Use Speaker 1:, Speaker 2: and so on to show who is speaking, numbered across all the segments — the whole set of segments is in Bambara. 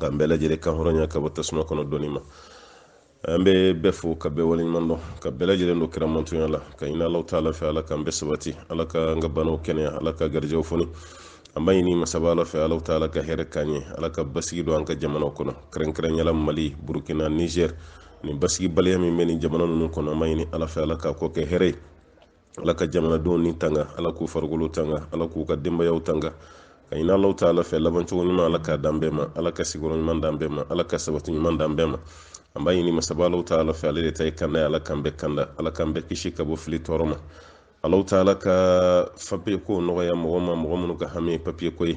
Speaker 1: k'an bɛɛ lajɛlen kan hɔrɔnya ka bɔ tasuma kɔnɔ dɔɔni ma an bɛ bɛɛ fo ka bɛɛ waleɲuman dɔn ka bɛɛ lajɛlen don kira mantonya la k'a ɲini allahu taala fɛ ala k'an bɛɛ sabati ala ka an ka banaw kɛnɛya ala ka garijɛw foni an b'a ɲini masaba ala fɛ allahu taala ka hɛrɛ k'an ye ala ka basigi don an ka jamanaw kɔnɔ kɛrɛnkɛrɛnya la mali burukina nizɛr nin basigibaliya min bɛ nin jamana ninnu kɔnɔ an b'a ɲini ala fɛ ala k'a kɔ kɛ hɛrɛ ye ala ka jamanadenw ni tanga ala k'u farikolo tanga ala k'u ka denbayaw tanga k'a ɲini allahu taala fɛ labancogo ɲuman ala k'a d'an bɛɛ ma ala ka sigiyɔrɔ ɲuman d'an bɛɛ ma ala ka sabati ɲuman d'an bɛɛ ma an b'a ɲini masaba allahu taala fɛ ale de ta ye kanda ye ala k'an bɛɛ kanda ala k'an bɛɛ kisi ka bɔ fili tɔɔrɔ ma allahu taala ka papiye ko nɔgɔya mɔgɔ ma mɔgɔ minnu ka hami ye papiye ko ye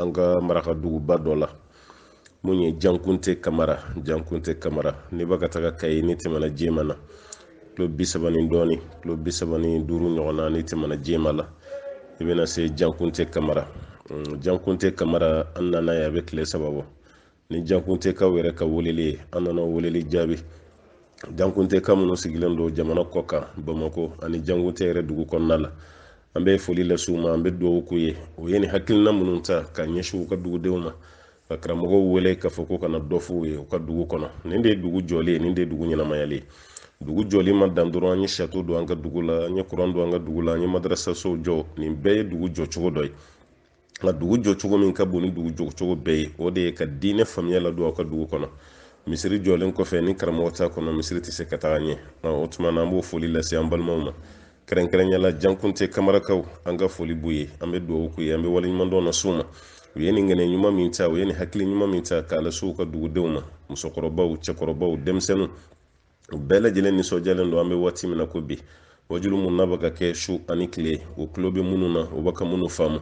Speaker 1: an ka maraka duguba dɔ la mun ye jankunte kamara jankunte kamara n'i bɛ ka taga kayi n'i tɛmɛna jema na kilo bi saba ni dɔɔni kilo bi saba ni duuru ɲɔgɔn na n'i tɛmɛna jema la i bɛna se jankunte kamara jankunte kamara an nana yan a bɛ tile saba bɔ ni jankuntekaw yɛrɛ ka weleli ye an nana weleli jaabi jankuntekaw minnu sigilen don jamana kɔkan bamakɔ ani jankunte yɛrɛ dugu kɔnɔna la an bɛ foli lase u ma an bɛ dugawu k'u ye u ye nin hakilina minnu ta k'a ɲɛsin u ka dugudenw ma ka karamɔgɔw wele k'a fɔ k'u ka na dɔ f'u ye u ka dugu kɔnɔ nin de ye dugu jɔlen ye nin de ye dugu ɲɛnamayalen ye dugu jɔli ma dan dɔrɔn an ye sato don an ka dugu la an ye kuran don an ka dugu la an ye madarasasow jɔ nin bɛɛ ye dugu jɔcogo dɔ ye nka dugu jɔcogo min ka bon ni dugu jɔcogo bɛɛ ye o de ye ka diinɛ faamuya ladon aw ka dugu kɔnɔ misiri jɔlen kɔfɛ ni karamɔgɔ t'a kɔnɔ misiri tɛ se ka taga ɲɛ o tuma na an b'o foli lase an balimaw ma kɛrɛnkɛrɛnya la jankunte kamarakaw an ka foli b'u ye an bɛ dugawu k'u ye an bɛ waleɲumandɔn las'u ma u ye nin ŋaniya ɲuman min ta u ye nin hakili ɲuman min ta k'a lase u ka dugudenw ma musokɔrɔbaw cɛkɔrɔbaw denmisɛnninw u bɛɛ lajɛlen nisɔndiyalen don an bɛ waati min na ko bi waajuli minnu n'a bɛ ka kɛ su ani tile u tulo bɛ minnu na u bɛ ka minnu faamu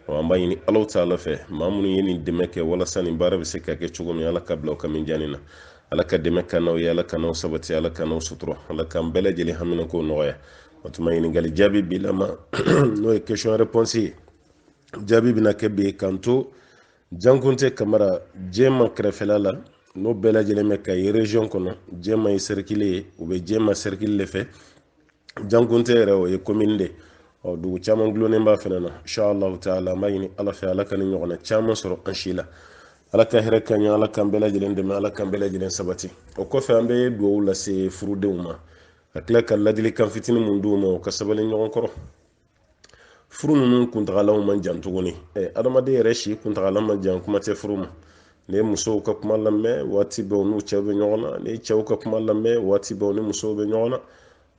Speaker 1: an b'a ɲini allahu taala fɛ maa minnu ye nin dɛmɛ kɛ walasa nin baara bɛ se ka kɛ cogo min ala k'a bila u ka mizani na ala ka dɛmɛ k'an n'aw ye ala k'an n'aw sabati ala k'an n'aw sutura ala k'an bɛɛ lajɛlen haminanko nɔgɔya o tuma ɲininkali jaabi bi lama n'o ye question réponse ye jaabi bɛna kɛ bi k'an to jankunte kamara jɛma kɛrɛfɛla la n'o bɛɛ lajɛlen bɛ kayi region kɔnɔ jɛma ye sɛrikili ye u bɛ jɛma sɛrikili de fɛ jankunte yɛrɛ o ye komini de ɔ dugu caman dulonnen b'a fana na inshallahu taala an b'a ɲini ala fɛ ala ka nin ɲɔgɔnna caman sɔrɔ an si la ala ka hɛrɛ k'an ye ala k'an bɛɛ lajɛlen dɛmɛ ala k'an bɛɛ lajɛlen sabati o kɔfɛ an bɛ dugawu lase furudenw ma ka tila ka ladilikan fitinin mun d'u ma u ka sabali ɲɔgɔn kɔrɔ furu ninnu kuntagalaw man jan tuguni adamaden yɛrɛ si kuntagala man jan kuma tɛ furu ma ne musow ka kuma lamɛn waati bɛɛ u n'u cɛw bɛ ɲɔgɔn na ne cɛw ka kuma lamɛn waati bɛɛ u ni musow bɛ ɲɔgɔn na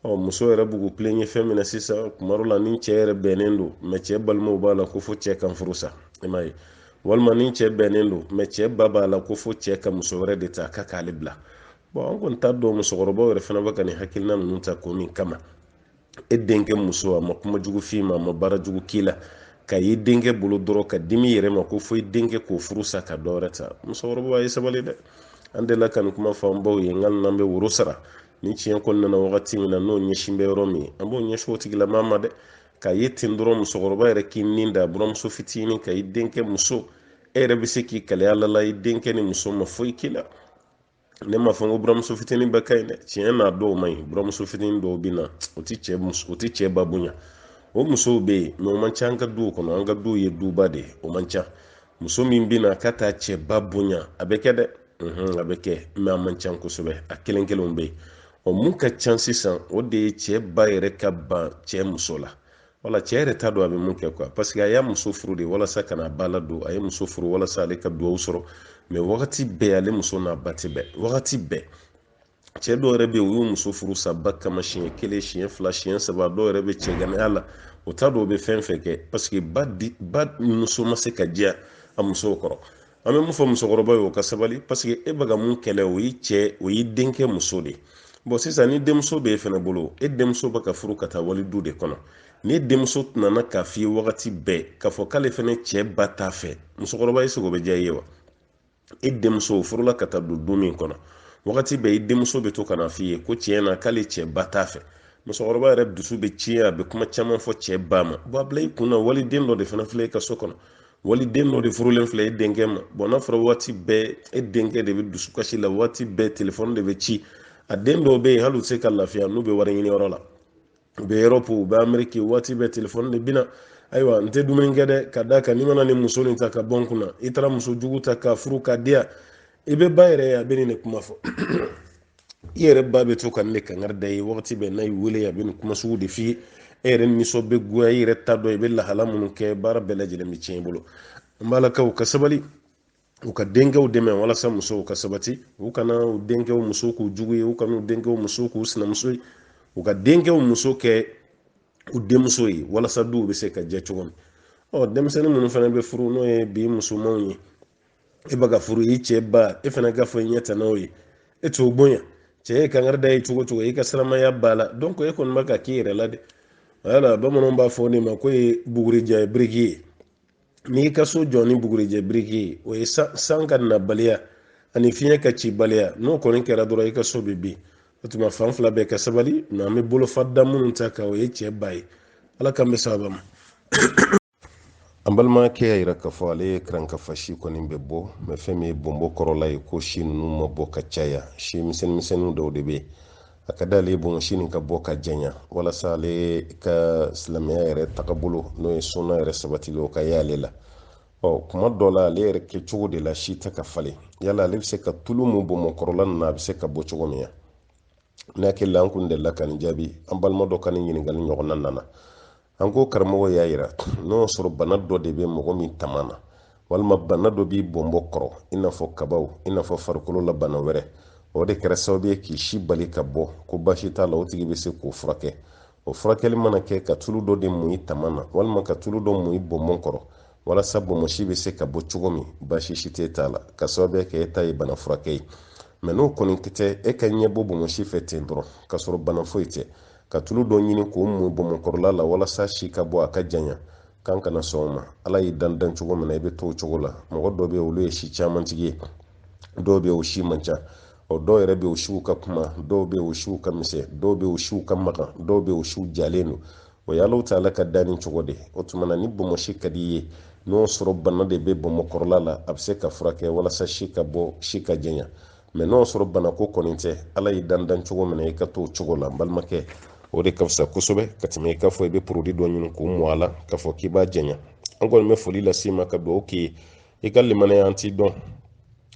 Speaker 1: ɔ muso yɛrɛ b'u k'u tilen ye fɛn min na sisan tuma dɔ la ni cɛ yɛrɛ bɛnnen don mɛ cɛ balimaw b'a la ko fo cɛ ka furu sa i m'a ye walima ni cɛ bɛnnen don mɛ cɛ ba b'a la ko fo cɛ ka muso wɛrɛ de ta k'a k'ale bila bɔn an kɔni t'a dɔn musokɔrɔbaw yɛrɛ fana bɛ ka nin hakilina ninnu ta ko min kama e denkɛ muso a ma kuma jugu f'i ma a ma baara jugu k'i la k'a y'i denkɛ bolo dɔrɔn ka dimi yɛrɛ ma ko fo i denkɛ k'o furu sa ka dɔ wɛrɛ ta musokɔrɔba ye sabali dɛ an delila ka nin kuma fɔ an baw ye nka n'an bɛ woro sara ni tiɲɛ kɔni nana wagati min na n'o ɲɛsin bɛ yɔrɔ min an b'o ɲɛsin o tigilama ma dɛ k'a ye ten dɔrɔn musokɔrɔba yɛrɛ k'i nin da buramuso fitinin kan i denkɛ muso e yɛrɛ bɛ se k'i kalaya lala i denkɛnin muso ma foyi k'i la ne m'a fɔ n ko buramuso fitinin bɛɛ ka ɲi dɛ tiɲɛ na dɔw man ɲi buramuso fitinin dɔw bɛ na o tɛ cɛ muso o tɛ cɛ ba bonya o musow bɛ yen mɛ o man ca an ka duw kɔnɔ an ka duw ye duba de ye o man ca muso min bɛ na k'a t'a cɛ ba bonya a bɛ kɛ dɛ a bɛ kɛ mɛ a man ca kosɛbɛ a kelen kelenw bɛ yen ɔ mun ka ca sisan o de ye cɛ ba yɛrɛ ka ban cɛ muso la wala cɛ yɛrɛ t'a dɔn a bɛ mun kɛ kuwa paseke a y'a muso furu de walasa ka n'a ba ladon a ye muso furu walasa ale ka dugawu sɔrɔ mɛ wagati bɛɛ ale muso n'a ba tɛ bɛn wagati bɛɛ cɛ dɔw yɛrɛ bɛ yen u y'u muso furu sa ba kama siɲɛ kelen siɲɛ fila siɲɛ saba dɔw yɛrɛ bɛ cɛganaya la o t'a dɔn o bɛ fɛn fɛn kɛ paseke ba di ba muso ma se ka diya a musokɔrɔ an bɛ mun fɔ musokɔrɔba ye o ka sabali paseke e bɛ ka mun kɛlɛ o y'i cɛ o y'i denkɛ muso de bɔn sisan ni denmuso bɛ e fana bolo e denmuso bɛ ka furu ka taa wali du de kɔnɔ n'i denmuso tun nana k'a f'i ye wagati bɛɛ k'a fɔ k'ale fana cɛ ba t'a fɛ musokɔrɔba eseke o bɛ diya i ye wa e denmuso furula ka taa don du min kɔnɔ wagati bɛɛ i denmuso bɛ to ka n'a f'i ye ko tiɲɛ na k'ale cɛ ba t'a fɛ musokɔrɔba yɛrɛ dusu bɛ tiɲɛ a bɛ kuma caman fɔ cɛ ba ma bɔn a bila i kun na waliden dɔ de fana filɛ i ka so kɔnɔ wali den dɔ de furulen filɛ e denkɛ ma bɔn n'a fɔra waati bɛɛ e denkɛ de bɛ dusukasi la waati bɛɛ telefɔni de bɛ ci a den dɔw bɛ yen hali u tɛ se ka lafiya n'u bɛ wari ɲini yɔrɔ la u bɛ erɔpu u bɛ ameriki waati bɛɛ telefɔni de bɛ na ayiwa n tɛ dumuni kɛ dɛ ka d'a kan n'i ma na nin muso nin ta ka bɔ n kunna i taara muso jugu ta ka furu ka diya i bɛ ba yɛrɛ a bɛ nin de kuma fɔ i yɛrɛ ba bɛ to ka nin kankari d'i ye wagati bɛɛ n'a y'i wele a bɛ nin kuma sugu de f'i ye e yɛrɛ nisɔn bɛ goya i yɛrɛ t'a dɔn i bɛ lahala minnu kɛ baara bɛɛ lajɛlen bɛ tiɲɛ i bolo n b'a la ka u ka sabali u k'u denkɛw dɛmɛ walasa musow ka sabati u kana u denkɛw muso k'u jugu ye u kana u denkɛw muso k'u sinamuso ye u k'u denkɛw muso kɛ u denmuso ye walasa duw bɛ se ka jɛ cogo min ɔ denmisɛnnin minnu fana bɛ furu n'o ye bi musomanw ye e bɛ ka furu i cɛ ba e fana ka fɔ i ɲɛ tɛ n'o ye e t'o bonya cɛ ye kangari da ye cogo o cogo i ka siramaya b'a la dɔn ko e kɔni bɛ ka k'i yɛrɛ la de wala bamananw b'a fɔ ne ma ko ye bugurijɛ biriki ye n'i ka so jɔ ni bugurijɛ biriki ye o ye san ka nabaliya ani fiɲɛ ka cibaliya n'o kɔni kɛra dɔrɔn i ka so bɛ bin o tuma fan fila bɛɛ ka sabali nka an bɛ bolofa da minnu ta kan o ye cɛ ba ye ala k'an bɛ sababa ma an balimakɛ y'a yira k'a fɔ ale ye karankafa si kɔni bɛ bɔ mɛ fɛn min ye bonbon kɔrɔla ye ko si ninnu ma bɔ ka caya si misɛnnin misɛnninw dɔw de bɛ yen a ka d'ale ye bonsi nin ka bɔ ka janya walasa ale ka silamɛya yɛrɛ tagabolo n'o ye suna yɛrɛ sabatili o ka y'ale la ɔ kuma dɔ la ale yɛrɛ kɛ cogo de la si tɛ ka falen yala ale bɛ se ka tulu mun bonbon kɔrɔla ninnu na a bɛ se ka bɔ cogo min na n'a kɛ la an kun delila ka nin jaabi an balima dɔ ka nin ɲininkali ɲɔgɔnna nana an ko karamɔgɔ y'a yira n'o y'a sɔrɔ bana dɔ de bɛ mɔgɔ min taman na walima bana dɔ b'i bonbon kɔrɔ i n'a fɔ kabaw i n'a fɔ farikolo la bana wɛrɛ o de kɛra sababu ye k'i si bali ka bɔ ko baasi t'a la o tigi bɛ se k'o furakɛ o furakɛli mana kɛ ka tulu dɔ de mun i taman na walima ka tulu dɔ mun i bonbon kɔrɔ walasa bonbonsi bɛ se ka bɔ cogo min baasi si tɛ t'a la ka sababuya kɛ e ta ye bana furakɛ ye mɛ n'o kɔni tɛ e ka ɲɛbɔ bonbonsi fɛ ten dɔrɔn k'a sɔrɔ bana foyi tɛ ka tulu dɔ ɲini k'o mun bonbonkɔrɔla la walasa si ka bɔ a ka janya k'an kana sɔn o ma ala y'i dan dancogo min na i bɛ to o cogo la mɔgɔ dɔ bɛ yen olu ye si caman tigi ye dɔw bɛ yen o si man ca ɔ dɔw yɛrɛ bɛ yen o siw ka kunba dɔw bɛ yen o siw ka misɛn dɔw bɛ yen o siw ka magan dɔw bɛ yen o siw jalen don o ye alahu taala ka danni cogo de o tuma na ni bonbonsi ka di i ye n'o sɔrɔ bana de bɛ bonbon kɔrɔla la a bɛ se ka furakɛ walasa si ka bɔ si ka janya mɛ n'o sɔrɔ banako kɔni tɛ ala y'i dan dancogo min na i ka t'o cogo la n balimakɛ o de ka fisa kosɛbɛ ka tɛmɛ i k'a fɔ i bɛ porodi dɔ ɲini k'o mun a la k'a fɔ k'i b'a janya an kɔni bɛ foli lase i ma ka dugawu k'i ye i ka limaniya an t'i dɔn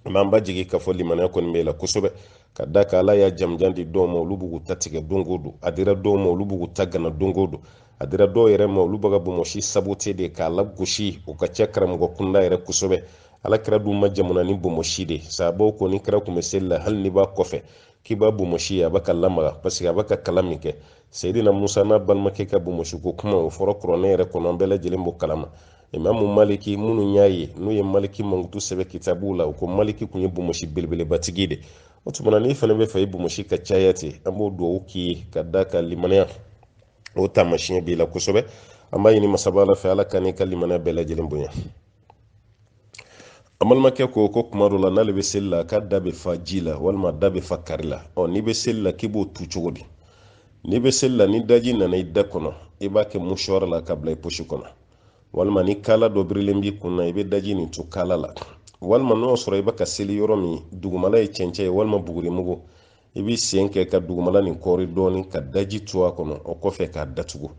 Speaker 1: an b'an b'a jigi k'a fɔ limaniya kɔni b'e la kosɛbɛ ka d'a kan ala y'a janmanjan di dɔw ma olu b'u ta tigɛ don o don a dira dɔw ma olu b'u ta gana don o don a dira dɔw yɛrɛ ma olu bɛ ka bonbonsi sabote de k'a lagosi o ka cɛ karamɔgɔ kunda yɛrɛ kosɛbɛ ala kira dun ma jamana ni bonbonsi de sababu ko ni kira tun bɛ seli la hali n'i b'a kɔfɛ k'i b'a bonbonsi a bɛ ka lamaga paseke a bɛ ka kalan min kɛ seyidina musa n'a balimakɛ ka bonbonsi ko kuma o fɔra kuranɛ yɛrɛ kɔnɔ an bɛɛ lajɛlen b'o kalama imamu maliki minnu y'a ye n'u ye maliki mankutu sɛbɛ kitabuw la u ko maliki tun ye bonbonsi belebelebatigi de o tuma na n'i fana b'a fɛ i bonbonsi ka caya ten an b'o dugawu k'i ye ka d'a kan limaniya o taamasiyɛn b'i la kosɛbɛ an b'a ɲini masaba ala fɛ ala k'an n'i ka limaniya bɛɛ lajɛlen bonya an balimakɛ ko ko kuma dɔ la n'ale bɛ seli la k'a da bɛ fa ji la walima da bɛ fa kaari la ɔ n'i bɛ seli la k'i b'o tu cogo di n'i bɛ seli la ni daji nana i da kɔnɔ i b'a kɛ musuwari la k'a bila i posi kɔnɔ walima ni kaala dɔ birilen b'i kun na i bɛ daji nin tu kaala la walima n'o sɔrɔ i bɛ ka seli yɔrɔ min dugumala ye cɛncɛn ye walima bugurimugu i b'i sen kɛ ka dugumala nin kɔɔri dɔɔni ka daji tu a kɔnɔ o kɔfɛ k'a datugu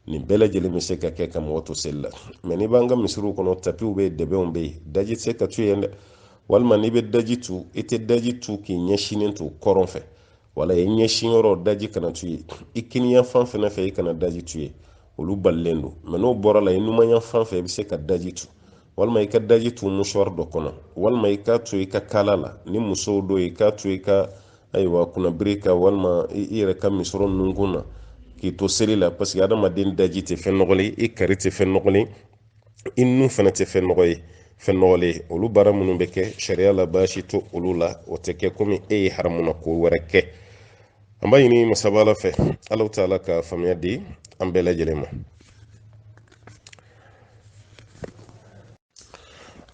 Speaker 1: nin bɛɛ lajɛlen bɛ se ka kɛ ka mɔgɔ to seli la mɛ n'i b'an ka misiriw kɔnɔ tapiw bɛ yen dɛbɛnw bɛ yen daji tɛ se ka to yen dɛ walima n'i bɛ daji tu i tɛ daji tu k'i ɲɛsinnen to kɔrɔn fɛ wala i ɲɛsin yɔrɔ daji kana tu yen i kiniyan fan fɛnɛ fɛ i kana daji tu yen olu balilen don mɛ n'o bɔra a la i numanyan fan fɛ i bɛ se ka daji tu walima i ka daji tu musuwari dɔ kɔnɔ walima i k'a tu i ka kaala la ni musow don i k'a tu i ka ayiwa kunnabiri la walima i yɛrɛ ka misɔrɔ nunkun na k'i to seli la parce que adamaden daji tɛ fɛn nɔgɔlen ye kaari tɛ fɛn nɔgɔlen ye nun fana tɛ fɛn nɔgɔ ye fɛn nɔgɔlen olu baara minnu bɛ kɛ sariya la baasi t'olu la o tɛ kɛ komi e ye haramuna ko wɛrɛ kɛ an b'a ɲini masaba ala fɛ ala taala ka faamuya di an bɛɛ lajɛlen ma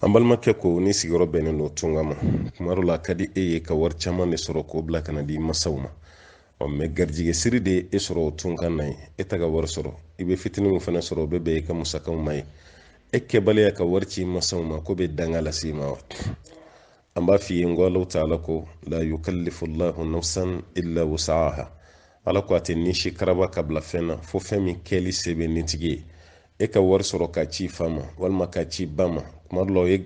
Speaker 1: an balimakɛ ko n'i sigiyɔrɔ bɛnnen don tunga ma kuma dɔ la a ka di e ye ka wari caman de sɔrɔ k'o bila ka n'a di i masaw ma ɔ mɛ garijigɛ siri de ye e sɔrɔ o tunga na yen e tɛ ka wari sɔrɔ i bɛ fitinin min fana sɔrɔ o bɛ bɛn i ka musakaw ma ye e kɛbaliya ka wari ci i masaw ma k'o bɛ danga lase i ma wa an b'a f'i ye n ko ala taala ko la yukallifu llahu nafsan illa wusaaha ala ko a tɛ ni si karaba k'a bila fɛn na fo fɛn min kɛli se bɛ nitigi ye e ka wari sɔrɔ k'a ci i fa ma walima k'a ci i ba ma kuma dɔ la o ye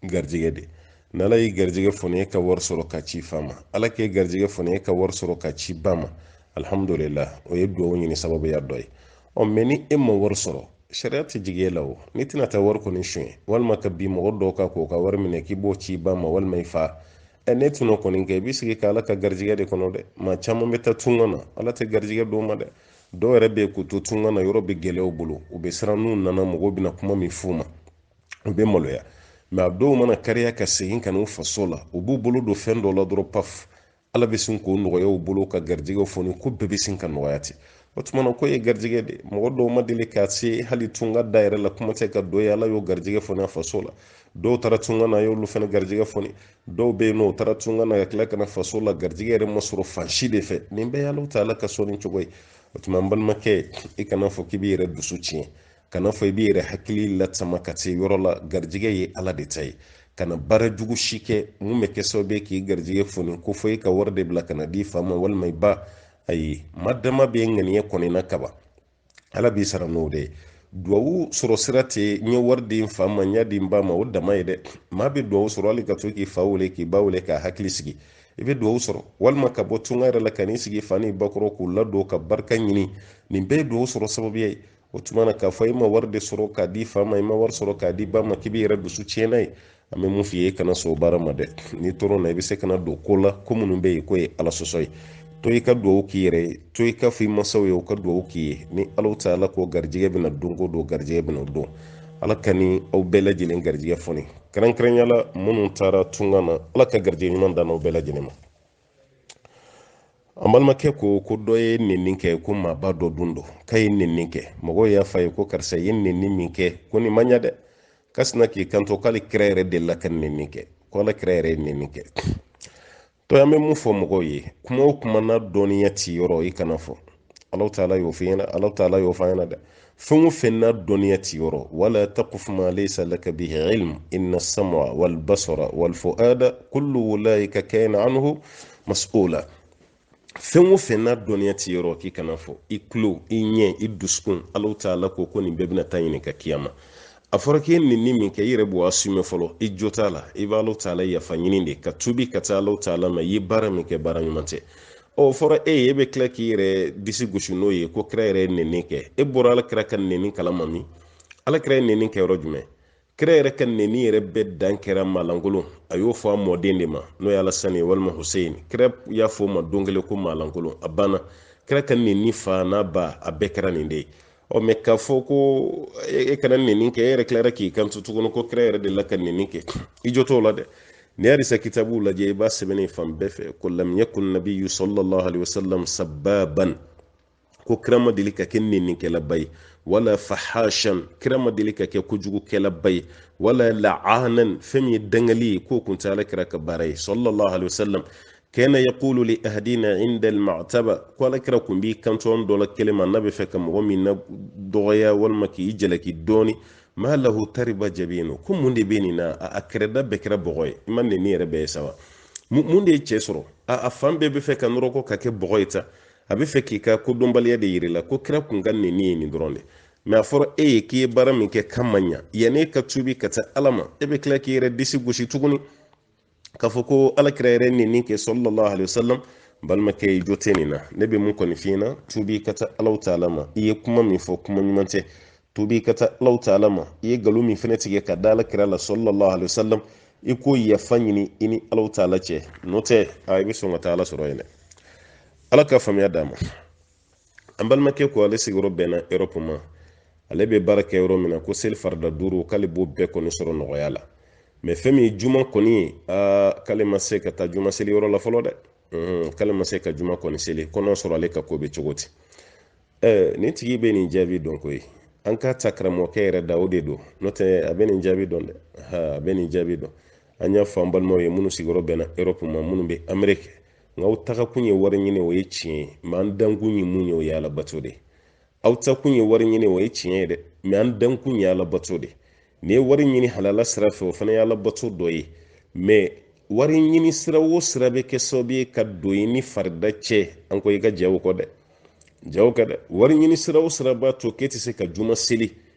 Speaker 1: garijɛgɛ de n'ala y'i garijɛgɛ foni e ka wari sɔrɔ k'a ci i fa ma ala k'e garijɛgɛ foni e ka wari sɔrɔ k'a ci i ba ma alihamudulila o ye duwawu ɲini sababuya dɔ ye ɔ mɛ ni e ma wari sɔrɔ sariya tɛ jigin e la o n'i tɛna taa wari kɔni suɲɛ walima ka bin mɔgɔ dɔw kan k'u ka wari minɛ k'i b'o ci i ba ma walima i fa ɛ n'e t'o kɔni kɛ i b'i sigi ka ala ka garijigɛ de kɔnɔ dɛ maa caman bɛ taa tunga na ala tɛ garijigɛ d'u ma dɛ dɔw yɛrɛ bɛ yen k'u to tunga na yɔrɔ bɛ gɛlɛya u bolo u bɛ siran n'u nana mɔgɔw bɛna kuma min f'u ma u bɛ maloya mɛ a dɔw mana kariya ka segin ka n'u faso la u b'u bolo don fɛn dɔ la dɔrɔn paf ala bɛ sin k'o nɔgɔya u bolo ka garijɛgɛw foni ko bɛɛ bɛ sin ka nɔgɔya ten o tuma na ko ye garijɛgɛ de mɔgɔ dɔw ma deli ka se hali tunga da yɛrɛ la kuma tɛ ka don yen ala y'o garijɛgɛ foni a faso la dɔw taara tunga na a y'olu fana garijɛgɛ foni dɔw bɛ yen nɔ u taara tunga na ka tila ka na faso la garijɛgɛ yɛrɛ ma sɔrɔ fan si de fɛ nin bɛɛ y'ala taala ka sɔnni cogo ye o tuma n balimakɛ i kana fɔ k'i b'i yɛrɛ dusu tiɲɛ kana fɔ i b'i yɛrɛ hakili lasama ka se yɔrɔ la garijɛgɛ ye ala de ta ye kana baara jugu si kɛ min bɛ kɛ sababu ye k'i garijɛgɛ foni ko fɔ i ka wari de bila ka n'a di fa ma walima i ba ayi ma dama bɛ ŋaniya kɔni na kaban ala b'i sara n'o de ye duwawu sɔrɔ sira tɛ n ye wari di n fa ma n y'a di n ba ma o dama ye dɛ maa bɛ duwawu sɔrɔ hali ka to k'i fa wele k'i ba wele k'a hakili sigi i bɛ duwawu sɔrɔ walima ka bɔ tunga yɛrɛ la ka n'i sigi fa ni ba kɔrɔ k'u ladon ka barika ɲini nin bɛɛ ye duwawu sɔrɔ sababuya ye o tuma na k'a fɔ i ma wari de sɔrɔ k'a di fa ma i ma wari sɔrɔ k'a di ba ma k'i b'i yɛrɛ dusu tiɲɛ n'a ye an bɛ mun f'i ye i kana sɔn o baara ma dɛ n'i tɔɔrɔla i bɛ se ka na don ko la ko minnu bɛ yen k'o ye ala sɔsɔ ye to i ka dugawu k'i yɛrɛ ye to i ka fɔ i masaw ye u ka dugawu k'i ye ni ala taala ko garijɛgɛ bɛna don ko don garijɛgɛ bɛna o don ala k'an ni aw bɛɛ lajɛlen garijɛgɛ foni kɛrɛnkɛrɛnya la minnu taara tunga na ala ka garijɛgɛ ɲuman d'an n'aw bɛɛ lajɛlen ma an balimakɛ ko ko dɔ ye nenni kɛ ko maaba dɔ don dɔ k'a ye nenni kɛ mɔgɔw y'a fɔ a ye ko karisa ye nenni min kɛ ko nin ma ɲa dɛ k'a sinna k'i kanto k'ala kira yɛrɛ delila ka nenni kɛ ko ala kira yɛrɛ ye nenni kɛ to an bɛ mun fɔ mɔgɔw ye kuma o kuma n'a dɔnniya t'i yɔrɔ i kan'a fɔ alaw taala y'o f'i ɲɛna alaw taala y'o f'a ɲɛna dɛ fɛn o fɛn n'a dɔnniya t'i yɔrɔ wala taqfu ma laysa laka bihi ilm inna sam'a wal basara wal fuada kullu ulaika kana anhu mas'ula fɛn o fɛn n'a dɔnniya t'i yɔrɔ k'i kan'a fɔ i tulo i ɲɛ i dusukun alaw taala ko ko nin bɛɛ bɛna taa ɲininka kiyama a fɔra k'i ye nɛni min kɛ i yɛrɛ b'o assume fɔlɔ i jo t'a la i b'alaw taala yafa ɲini de ka tubi ka taa alaw taala ma i ye baara min kɛ baara ɲuman tɛ o fɔra e ye e bɛ tila k'i yɛrɛ disi gosi n'o ye ko kira yɛrɛ ye nɛni kɛ e bɔra ala kira ka nɛni kala ma min ala kira ye nɛni kɛ yɔrɔ jumɛn kira yɛrɛ ka nɛni yɛrɛ bɛɛ dan kɛra maalankolon a y'o fɔ a mɔden de ma n'o ye alasani ye walima husein kira y'a fɔ o ma don kelen ko maalankolon a banna kira ka nɛni fa n'a ba a bɛɛ kɛra nin de ye ɔ mɛ k'a fɔ ko e kana nɛni kɛ e yɛrɛ tilara k'i kanto tuguni ko kira yɛrɛ delila ka nɛni kɛ i jo t'o la dɛ n'i hadisa kitabuw lajɛ i b'a sɛbɛnnen fan bɛɛ fɛ ko lam yakun nabiyu sallallahu alaihi wasallam sabbaban ko kira ma deli ka kɛ nɛnikɛlaba ye wala fahashan kira ma deli ka kɛ kojugukɛlaba ye wala la'anan fɛn min ye dangali ye k'o kun tɛ ala kira ka baara ye sallallahu alaihi wasallam kana yaqulu li ahadina inda alma'taba ko ala kira kun b'i kanto an dɔ la kelen ma n'a bɛ fɛ ka mɔgɔ min nadɔgɔya walima k'i jalaki dɔɔni ma lahu tariba jabinu ko mun de bɛ nin na a kɛrɛda bɛɛ kɛra bɔgɔ ye i ma nɛni yɛrɛ bɛɛ ye saba mun de ye cɛ sɔrɔ a fan bɛɛ bɛ fɛ ka nɔrɔkɔ ka kɛ bɔgɔ ye ta a bɛ fɛ k'i ka kodɔnbaliya de yir'i la ko kira kun ka nɛni ye nin dɔrɔn de mɛ a fɔra e ye k'i ye baara min kɛ k'a ma ɲa yanni e ka tubi ka taa ala ma e bɛ tila k'i yɛrɛ disi gosi tuguni k'a fɔ ko alakira yɛrɛ ni nin kɛ sallallahu alaihi wasallam balimakɛ i jo tɛ nin na ne bɛ min kɔni f'i ɲɛna tubi ka taa alaw taala ma i ye kuma min fɔ kuma ɲuman tɛ tubi ka taa alaw taala ma i ye nkalon min fana tigɛ ka da alakira la sallallahu alaihi wasallam i k'o yafa ɲini i ni alaw taala cɛ n'o tɛ a i bɛ sɔn ka taa ala sɔrɔ yen dɛ ala ka faamuya d'an ma an balimakɛ ko ale sigiyɔrɔ bɛnna erɔpu ma ale bɛ baara kɛ yɔrɔ min na ko seli farida duuru k'ale b'o bɛɛ kɔni sɔrɔ nɔgɔya la mɛ fɛn min ye juma kɔni ye aa k'ale ma se ka taa juma seli yɔrɔ la fɔlɔ dɛ k'ale ma se ka juma kɔni seli kɔnɔ sɔrɔ ale ka ko bɛ cogo di ɛɛ nin tigi bɛ nin jaabi dɔn ko ye an k'a ta karamɔgɔkɛ yɛrɛ da o de don n'o tɛ a bɛ nin jaabi dɔn dɛ a bɛ nin jaabi dɔn an y'a fɔ an balimaw ye minnu sigiyɔrɔ bɛnna erɔpu ma minnu bɛ ameriki nka aw tagakun ye wari ɲini o ye tiɲɛ ye mɛ an dankun ye mun ye o ye ala bato de aw taakun ye wari ɲini o ye tiɲɛ ye dɛ mɛ an dankun ye ala bato de n'i ye wari ɲini halala sira fɛ o fana ye ala bato dɔ ye mɛ wari ɲini sira o sira bɛ kɛ sababu ye ka don i ni farida cɛ an ko i ka jɛn o kɔ dɛ jɛn o kɔ dɛ wari ɲini sira o sira b'a to k'e tɛ se ka juma seli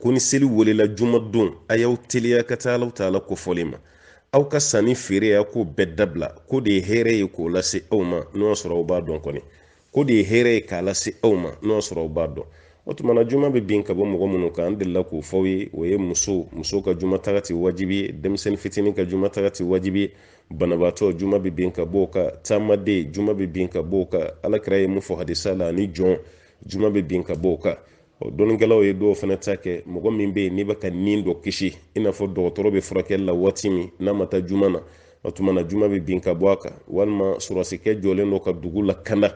Speaker 1: ko ni seli welela juma don a y'aw teliya ka taa alaw taala kofɔli ma aw ka sannifeereya ko bɛɛ dabila k'o de ye hɛrɛ ye k'o lase aw ma n'o y'a sɔrɔ aw b'a dɔn kɔni k'o de ye hɛrɛ ye k'a lase aw ma n'o y'a sɔrɔ aw b'a dɔn o tuma na juma bɛ bin ka bɔ mɔgɔ minnu kan an delila k'o f'aw ye o ye muso muso ka juma taga ti wajibi ye denmisɛnnin fitinin ka juma taga ti wajibi ye banabaatɔ juma bɛ bin ka bɔ o kan taamaden juma bɛ bin ka bɔ o kan alakira ye mun fɔ hadisa la ani jɔn juma bɛ bin ka bɔ o kan o dɔnnikɛlaw ye dɔw fana ta kɛ mɔgɔ min bɛ yen n'i bɛ ka nin dɔ kisi i n'a fɔ dɔgɔtɔrɔ bɛ furakɛli la waati min n'a ma taa juma na o tuma na juma bɛ bin ka bɔ a kan walima sɔrɔdasikɛ jɔlen don ka dugu lakanda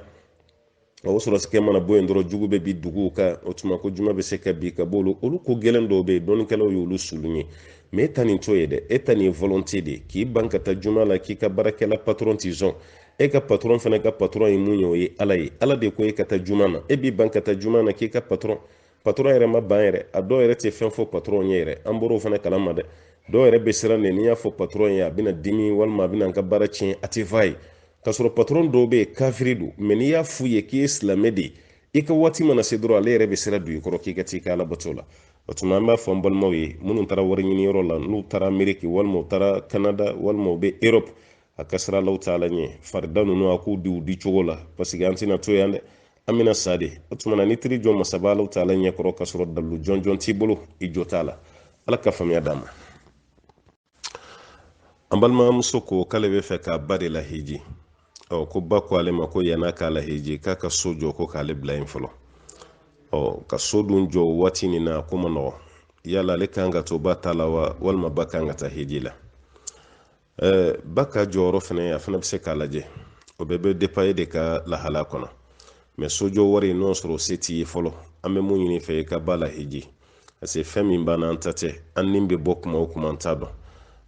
Speaker 1: o sɔrɔdasikɛ mana bɔ yen dɔrɔn jugu bɛ bin dugu kan o tuma ko juma bɛ se ka bin ka b'olu olu ko gɛlɛn dɔw bɛ yen dɔnnikɛlaw y'olu sulun ye mɛ e ta nin t'o ye dɛ e ta nin ye volonte de ye k'i ban ka taa juma la k'i ka baarakɛla patɔrɔn ti sɔn e ka patɔrɔn fana ka patɔrɔn ye mun ye o ye ala ye ala de ko e ka taa juma na e b'i ban ka taa juma na k'i ka patɔrɔn patɔrɔn yɛrɛ ma ban yɛrɛ a dɔw yɛrɛ tɛ fɛn fɔ patɔrɔn ye yɛrɛ an bɔr'o fana kalama dɛ dɔw yɛrɛ bɛ siran de ni n y'a fɔ patɔrɔn ye a bɛna dimi walima a bɛna n ka baara tiɲɛ a t'a f'a ye k'a sɔrɔ patɔrɔn dɔw bɛ yen kafiri don mɛ n'i y'a f'u ye k'i ye silamɛ de ye i ka waati mana se dɔrɔn ale yɛrɛ bɛ sira don i kɔrɔ k'i ka t'i ka alabato la o tuma an b'a fɔ an balimaw ye minnu taara wari ɲini yɔrɔ la n'u taara ameriki walima u taara kanada walima u bɛ erɔpu a ka siran alaw taala ɲɛ farida ninnu a k'u di u di cogo la paseke an tɛna to yan dɛ an bɛna sa de o tuma na n'i taar'i jɔ masaba alaw taala ɲɛ kɔrɔ ka sɔrɔ dalilu jɔnjɔn t'i bolo i jo t'a la ala ka faamuya d'an ma an balimamuso ko k'ale b'a fɛ k'a ba de lahiji ɔ ko ba ko ale ma ko yann'a k'a lahiji k'a ka so jɔ ko k'ale bila yen fɔlɔ ɔ ka so dun jɔ waati nin na k'o man nɔgɔn yala ale kan ka to ba ta la wa walima ba kan ka taa hiji la ba ka jɔyɔrɔ fana a fana bɛ se k'a lajɛ o bɛɛ bɛ depa e de ka lahala kɔnɔ mɛ sojɔ wari n'o sɔrɔ se t'i ye fɔlɔ an bɛ min ɲini i fɛ i ka ba lahiji parce que fɛn min b'an na an ta tɛ an ni bɛ bɔ kuma o kuma an t'a dɔn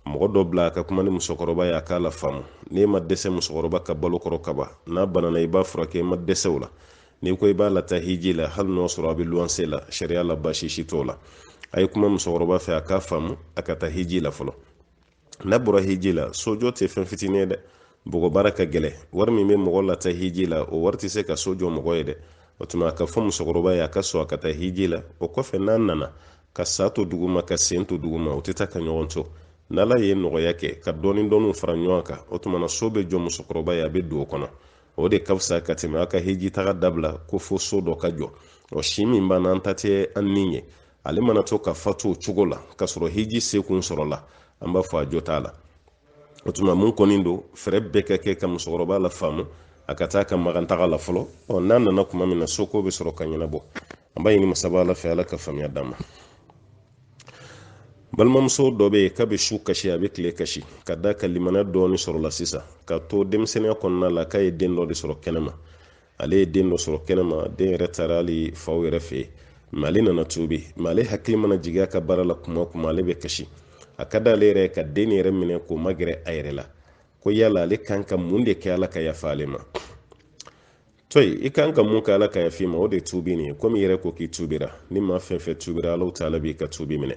Speaker 1: mɔgɔ dɔ bila a ka kuma ni musokɔrɔba ye a k'a lafaamu n'e ma dɛsɛ musokɔrɔba ka balo kɔrɔ kaba n'a banana i b'a furakɛ i ma dɛsɛ o la n'i ko i b'a lataa hiji la hali n'o sɔrɔ a bɛ luwanse la sariya la baasi si t'o la a ye kuma musokɔrɔba fɛ a k'a faamu a ka taa hiji la fɔlɔ n'a bɔra hiji la sojɔ tɛ fɛn fitinin ye dɛ bɔgɔ baara ka gɛlɛn wari min bɛ mɔgɔ lataa hiji la o wari tɛ se ka so jɔ mɔgɔ ye dɛ o tuma a ka fɔ musokɔrɔba ye a ka sɔn a ka taa hiji la o kɔfɛ n'a nana ka sa to duguma k'a sen to duguma o tɛ taa ka ɲɔgɔn to n'ala ye nɔgɔya kɛ ka dɔɔni dɔɔniw fara ɲɔgɔn kan o tuma na so bɛ jɔ musokɔrɔba ye a bɛ don o kɔnɔ o de ka fisa ka tɛmɛ a ka hiji taga dabila ko fo so dɔ ka jɔ o si min b'an na an ta tɛ an ni ye ale mana to ka fatu o cogo la ka sɔrɔ hiji seko sɔrɔla an b'a fɔ a jɔ t'a la o tuma min kɔni don fɛɛrɛ bɛɛ ka kɛ ka musokɔrɔba lafaamu a ka taa ka makan taga la fɔlɔ ɔ n'a nana kuma min na soko bɛ sɔrɔ ka ɲɛnabɔ an b'a ɲini masaba ala fɛ ala ka faamuya d'a ma balimamuso dɔ bɛ yen k'a bɛ su kasi a bɛ tile kasi k'a d'a kan limaniya dɔɔni sɔrɔla sisan k'a to denmisɛnninya kɔnɔna la k'a ye den dɔ de sɔrɔ kɛnɛma ale ye den dɔ sɔrɔ kɛnɛma den yɛrɛ taara hali faw yɛrɛ fɛ mɛ ale nana tubi mɛ ale hakili mana jigi a ka baara la kuma kuma ale bɛ kasi a ka d'ale yɛrɛ ka den yɛrɛ minɛ k'o magɛrɛ a yɛrɛ la ko yala ale kan ka mun de kɛ ala ka yafa ale ma toyi i kan ka mun kɛ ala ka yaf'i ma o de tubi nin ye komi i yɛrɛ ko k'i tubira ni maa fɛn fɛn tubira ala taala b'i ka tubi minɛ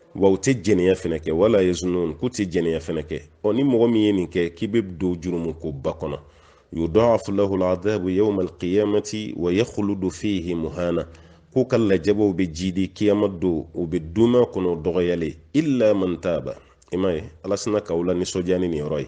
Speaker 1: wa u tɛ jɛnɛya fɛnɛ kɛ wala yazunun k'u tɛ jɛnɛya fɛnɛ kɛ ɔ ni mɔgɔ min ye nin kɛ k'i bɛ don jurumu kunba kɔnɔ yuda'afu lahu aladabu yawma alqiyamati wa yakhludu fihi muhana k'u ka lajabaw bɛ jiidi kiyama don u bɛ duum'a kɔnɔ dɔgɔyalen illa man taba i m'a ye ala sinna k'aw lanisɔndiya ni nin yɔrɔ ye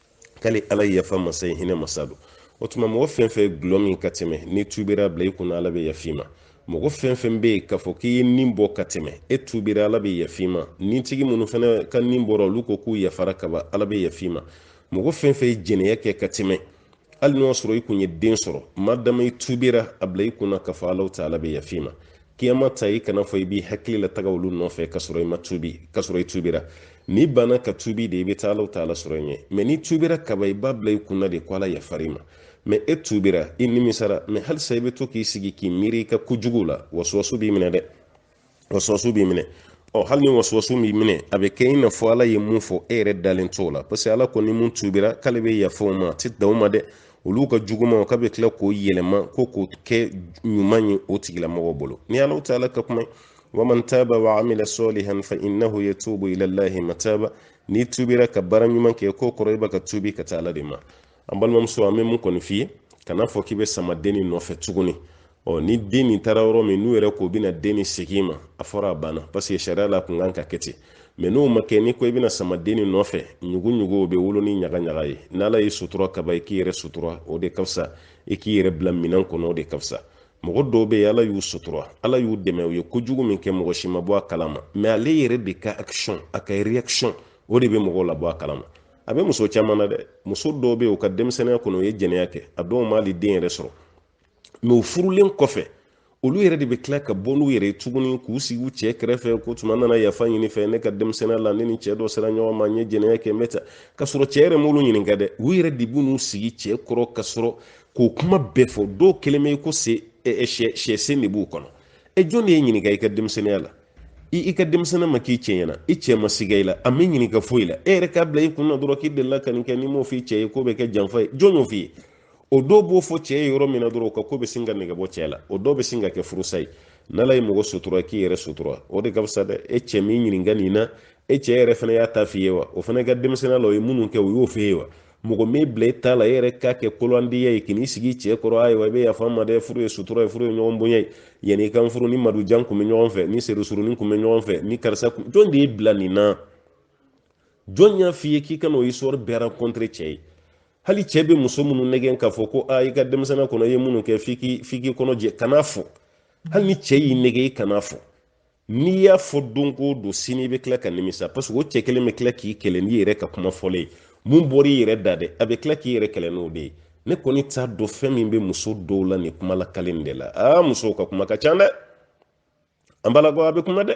Speaker 1: k'ale ala ye yafa masa ye hinɛ masa don o tuma mɔgɔ fɛn fɛn ye gulɔ min ka tɛmɛ n'i tubira a bila i kunna ala bɛ yaf'i ma mɔgɔ fɛn fɛn bɛ yen k'a fɔ k'i ye ni bɔ ka tɛmɛ e tubira ala bɛ yaf'i ma ni tigi minnu fana ka ni bɔra olu ko k'u yafara kaba ala bɛ yaf'i ma mɔgɔ fɛn fɛn ye jɛnɛya kɛ ka tɛmɛ hali n'o y'a sɔrɔ i kun ye den sɔrɔ madama i tubira a bila i kunna k'a fɔ alahu taala bɛ yaf'i ma kiyama ta i kan'a fɔ i b'i hakili lataga olu nɔfɛ ka sɔrɔ i ma tubi ka sɔrɔ i tubira n'i banna ka tubi de i bɛ taa alahu taala sɔrɔ i ɲɛ mɛ n'i tubira kaba i b'a bila i kunna de ko ala yafar'i ma mɛ e tubira i nimisara mɛ halisa i bɛ to k'i sigi k'i miiri i ka kojugu la wasuwasu b'i minɛ dɛ wasuwasu b'i minɛ ɔ hali ni wasuwasu b'i minɛ a bɛ kɛ i n'a fɔ ala ye min fɔ e yɛrɛ dalen t'o la parce que ala kɔni min tubira k'ale bɛ yafa o ma a tɛ dan o ma dɛ olu ka jugumanw ka bɛ tila k'o yɛlɛma ko k'o kɛ ɲuman ye o tigilamɔgɔ bolo ni ala taala ka kuma ye waman taba wa amila sɔlihan fa innahu yatubu ila llahi mataba n'i tubira ka baara ɲuman kɛ k'o kɔrɔ i bɛ ka tubi ka taa ala de ma an balimamuso an bɛ min kɔni f'i ye kana fɔ k'i bɛ sama den nin nɔfɛ tuguni ɔ ni den nin taara yɔrɔ min n'u yɛrɛ k'u bɛna den nin segin i ma a fɔra a banna paseke sariya la a kun kan ka kɛ ten mɛ n'o ma kɛ n'i ko i bɛna sama den nin nɔfɛ ɲugu ɲugu o bɛ wolo ni ɲaga ɲaga ye n'ala y'i sutura kaban i k'i yɛrɛ sutura o de ka fisa i k'i yɛrɛ bila minɛn kɔnɔ o de ka fisa mɔgɔ dɔw bɛ yen ala y'u sutura ala y'u dɛmɛ u ye kojugu min kɛ mɔgɔ si ma bɔ a kalama mɛ ale yɛrɛ de ka action a ka reaction o de bɛ mɔgɔw labɔ a kalama a bɛ muso caman na dɛ muso dɔw bɛ yen u ka denmisɛnninya kɔnɔ u ye jɛnɛya kɛ a dɔw m'ali den yɛrɛ sɔrɔ mɛ u furulen kɔfɛ olu yɛrɛ de bɛ tila ka bɔ n'u yɛrɛ ye tuguni k'u sigi u cɛ kɛrɛfɛ ko tuma n nana yafa ɲini i fɛ ne ka denmisɛnninya la ne ni cɛ dɔ sera ɲɔgɔn ma n ye jɛnɛya kɛ n bɛ ta ka sɔrɔ cɛ yɛrɛ m'olu ɲininka dɛ u yɛrɛ de b'u n'u sigi cɛ kɔrɔ ka sɔrɔ k'o kuma bɛɛ fɔ dɔw kɛlen bɛ ko sisɛ sen de b'u kɔnɔ e jɔn de y'e ɲininka i ka denmisɛnninya la i ka denmisɛnninya ma k'i cɛ ɲɛna i cɛ ma siga i la a m'i ɲininka foyi la e yɛrɛ k'a bila i kun na dɔrɔn k'i delila ka nin kɛ n'i m'o f'i cɛ ye k'o bɛ kɛ janfa ye jɔn y'o f'i ye o dɔw b'o fɔ cɛ ye yɔrɔ min na dɔrɔn o ka ko bɛ sin ka nege bɔ cɛ la o dɔw bɛ sin ka kɛ furusa ye n'ala ye mɔgɔ sutura k'i yɛrɛ sutura o de ka fisa dɛ e cɛ m'i ɲininka nin na e cɛ yɛrɛ fana y'a ta f'i ye wa o fana ka denmisɛnninya la o ye minnu kɛ o y'o f'e ye wa mɔgɔ m'i bila e ta la e yɛrɛ k'a kɛ koloandiya ye k'i sigi cɛ kɔrɔ ayiwa i bɛ yafa n ma dɛ furu ye sutura ye furu ye ɲɔgɔn bonya ye yanni i ka n furu n ni madujan kun bɛ ɲɔgɔn fɛ n ni seku surunin kun bɛ ɲɔgɔn fɛ n ni karisa kun jɔn de y'i bila nin na jɔn y'a f'i ye k'i ka na o histoire bɛɛ raconter cɛ ye hali cɛ bɛ muso minnu nɛgɛn k'a fɔ ko a i ka denmisɛnninya kɔnɔ i ye minnu kɛ f'i k'i f'i k'i kɔnɔ jɛ kan'a fɔ hali ni cɛ y'i nɛgɛn i kan'a fɔ n'i y'a fɔ don o don sini i bɛ tila ka nimisa parce que o cɛ kelen bɛ tila k'i kɛlɛ n'i yɛrɛ ka kuma fɔlen ye min bɔr'i yɛrɛ da dɛ a bɛ tila k'i yɛrɛ kɛlɛ n'o de ye ne kɔni t'a dɔn fɛn min bɛ muso dɔw la nin kuma lakali de la aa musow ka kuma ka ca dɛ an balakaw a bɛ kuma dɛ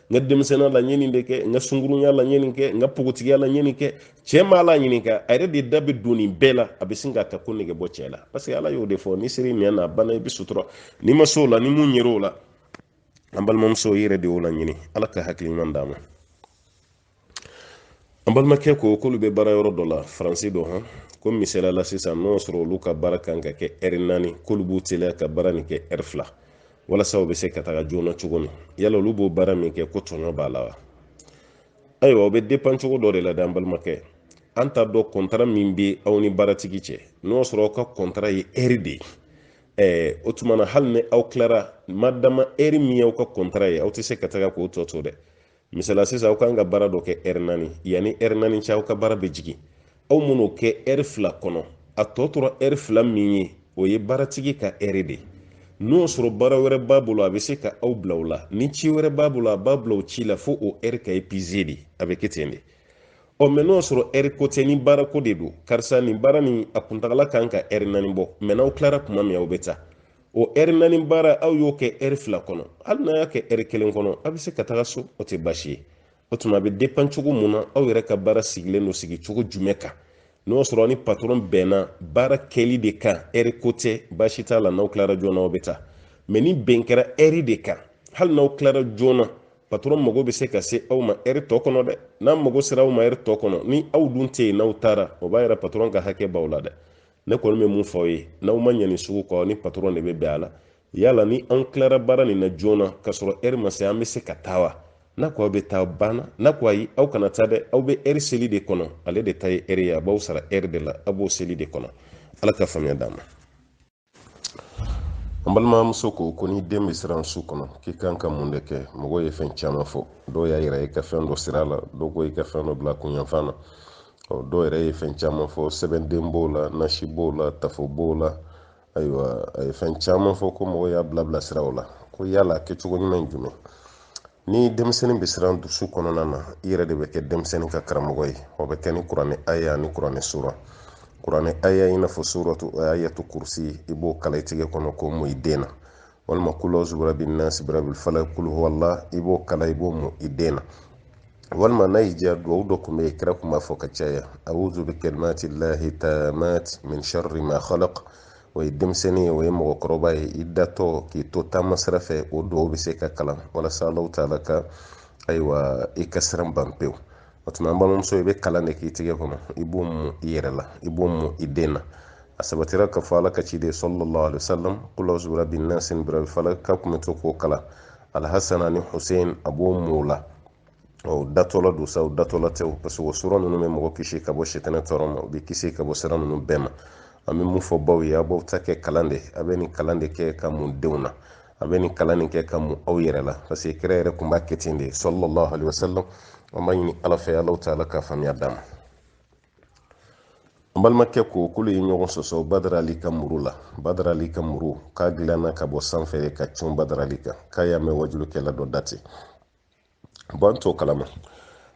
Speaker 1: n ka denmisɛnninya la n ye nin de kɛ n ka sunkurunya la n ye nin kɛ n ka pogotigiya la n ye nin kɛ cɛ m'a laɲininka a yɛrɛ de da bɛ don nin bɛɛ la a bɛ sin k'a ka ko nege bɔ cɛ la parce que ala y'o de fɔ n'i ser'i nɛn na a banna i bɛ sutura n'i ma s'o la ni min yer'o la an balimamuso i yɛrɛ de y'o laɲini ala ka hakili ɲuman d'an ma an balimakɛ ko k'olu bɛ baara yɔrɔ dɔ la faransi dɔ hɔn ko misaliya la sisan n'o sɔrɔ olu ka baara kan ka kɛ ɛri naani k'olu b'u teliya ka baara nin kɛ ɛri fila walasa u bɛ se ka taga joona cogo min yala olu b'o baara min kɛ ko tɔɲɔ b'a la wa ayiwa o bɛ depan cogo dɔ de la dɛ an balimakɛ an t'a dɔn kɔntara min bɛ aw ni baaratigi cɛ n'o sɔrɔ aw ka kɔntara ye ɛri de ye ɛɛ o tuma na hali ni aw tilara madama ɛri min y'aw ka kɔntara ye aw tɛ se ka taga k'o tɔ to dɛ misali sisan aw kan ka baara dɔ kɛ ɛri naani yanni ɛri naani cɛ aw ka baara bɛ jigin aw man'o kɛ ɛri fila kɔnɔ a tɔ tora ɛri fila min ye o ye baaratigi ka ɛri de ye n'o y'a sɔrɔ baara wɛrɛ b'a bolo a bɛ se ka aw bila o la ni ci wɛrɛ b'a bolo a b'a bila o ci la fo o ɛri ka epize de a bɛ kɛ ten de ɔ mɛ n'o y'a sɔrɔ ɛri ko tɛ ni baarako de don karisa nin baara nin a kuntagala kan ka ɛri naani bɔ mɛ n'aw tilara tuma min aw bɛ taa o ɛri naani baara aw y'o kɛ ɛri fila kɔnɔ hali n'a y'a kɛ ɛri kelen kɔnɔ a bɛ se ka taga so o tɛ baasi ye o tuma a bɛ depan cogo mun na aw yɛrɛ ka baara sigilen don sigi cogo jumɛn kan n'o sɔrɔ aw ni patɔrɔn bɛnna baara kɛli de kan ɛri ko tɛ baasi t'a la n'aw tilara joona aw bɛ taa mɛ ni bɛn kɛra ɛri de kan hali n'aw tilara joona patɔrɔn mago bɛ se ka se aw ma ɛri tɔ kɔnɔ dɛ n'a mago sera aw ma ɛri tɔ kɔnɔ ni aw dun tɛ yen n'aw taara o b'a yira patɔrɔn ka hakɛ b'aw la dɛ ne kɔni bɛ mun fɔ aw ye n'aw mana nin sugu kɛ aw ni patɔrɔn de bɛ bɛn a la yala ni an tilara baara nin na joona k'a sɔrɔ ɛri ma se an bɛ se ka taa wa n'a ko aw bɛ taa banna n'a ko ayi aw kana taa dɛ aw bɛ ɛri seli de kɔnɔ ale de ta ye ɛri ye a b'aw sara ɛri de la a b'o seli de kɔnɔ ala ka faamuya d'an ma an balimamuso ko ko ni den bɛ siran su kɔnɔ k'i kan ka mun de kɛ mɔgɔw ye fɛn caman fɔ dɔw y'a yira i ka fɛn dɔ siri a la dɔw ko i ka fɛn dɔ bila a kun yanfan na ɔ dɔw yɛrɛ ye fɛn caman fɔ sɛbɛnden b'o la nasi b'o la tafo b'o la ayiwa a ye fɛn caman fɔ ko mɔgɔw y'a bilabila siraw la ko yala kɛcogo ɲuman ye jumɛn ni denmisɛnnin bɛ siran su kɔnɔna na i yɛrɛ de bɛ kɛ denmisɛnnin ka karamɔgɔ ye o bɛ kɛ ni kuranɛ aya ani kuranɛ sura kuranɛ aya i n'a fɔ suratu ayatu kurusi i b'o kalan i tigɛ kɔnɔ k'o mun i den na walima kul awuzu birabi nasi birabil falak kulu huwala i b'o kalan i b'o mun i den na walima n'a y'i diya duwawu dɔ tun bɛ yen kira tun b'a fɔ ka caya awuzu bi kalimati lahi taamati min sharri ma khalaq o ye denmisɛnnin ye o ye mɔgɔkɔrɔba ye i datɔ k'i to taama sira fɛ o duwawu bɛ se ka kalan walasa alahu taala ka ayiwa i ka siran ban pewu o tuma an balimamuso i bɛ kalan de k'i tɛgɛ kɔnɔ i b'o mun i yɛrɛ la i b'o mun i den na a sabatira k'a fɔ ala ka ciden sallallahu alaihi wasallam kul awuzu birabi nasi birabil falak a kun bɛ to k'o kalan alhasan ani hussein a b'o mun o la o datɔla don sa o datɔla tɛ o parce que o sura ninnu bɛ mɔgɔ kisi ka bɔ sitanɛ tɔɔrɔ ma u bɛ kisi ka bɔ siran ninnu bɛɛ ma an bɛ mun fɔ baw ye aw b'aw ta kɛ kalan de a bɛ nin kalan de kɛ k'a mun denw na a bɛ nin kalan nin kɛ k'a mun aw yɛrɛ la parce que kira yɛrɛ tun b'a kɛ ten de sallallahu alaihi wasallam an b'a ɲini ala fɛ alahu taala ka faamuya d'an ma n balimakɛ ko k'olu ye ɲɔgɔn sɔsɔ badarali ka muru la badarali ka muru k'a dilanna ka bɔ sanfɛ ka cun badarali kan k'a y'a mɛn wajulikɛla dɔ dati bɔn an t'o kalama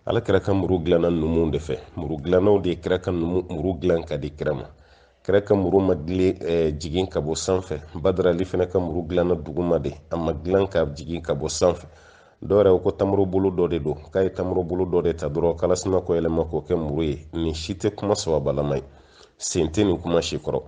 Speaker 1: ala kira ka muru dilanna numu de fɛ muru dilannaw de ye kira ka numu muru dilan k'a di kira ma kira ka muru ma dilan eh, jigin ka bɔ sanfɛ badarali fana ka muru dilanna duguma de a ma dilan ka jigin ka bɔ sanfɛ dɔwɛrɛ ko tamaro bolo dɔ de don k'a ye tamaro bolo dɔ de ta dɔrɔn k'ala sinna k'o yɛlɛma k'o kɛ muru ye nin si tɛ kuma sababalama ye sen tɛ nin kuma si kɔrɔ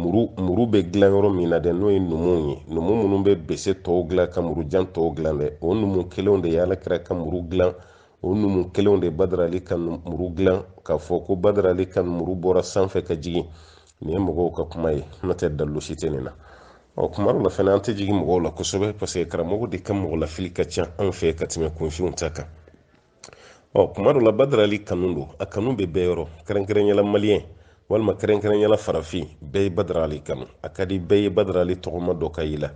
Speaker 1: muru muru bɛ dilan yɔrɔ min na dɛ n'o ye numuw ye numu minnu bɛ bese tɔw dilan ka murujan tɔw dilan dɛ o numu kelenw de ye ala kira ka muru dilan o numu kelenw de badarali ka muru dilan k'a fɔ ko badarali ka muru bɔra sanfɛ ka jigin nin ye mɔgɔw ka kuma ye n'o tɛ dalilu si tɛ nin na ɔ kuma dɔ la fana an tɛ jigin mɔgɔw la kosɛbɛ paseke karamɔgɔw de ka mɔgɔ lafili ka ca anw fɛ ka tɛmɛ kunfinw ta kan ɔ kuma dɔ la badarali kanu don a kanu bɛ bɛɛ yɔrɔ kɛrɛnkɛrɛnyala maliyɛn walima kɛrɛnkɛrɛnyala farafin bɛɛ ye badarali kanu a ka di bɛɛ ye badarali tɔgɔma dɔ ka yi la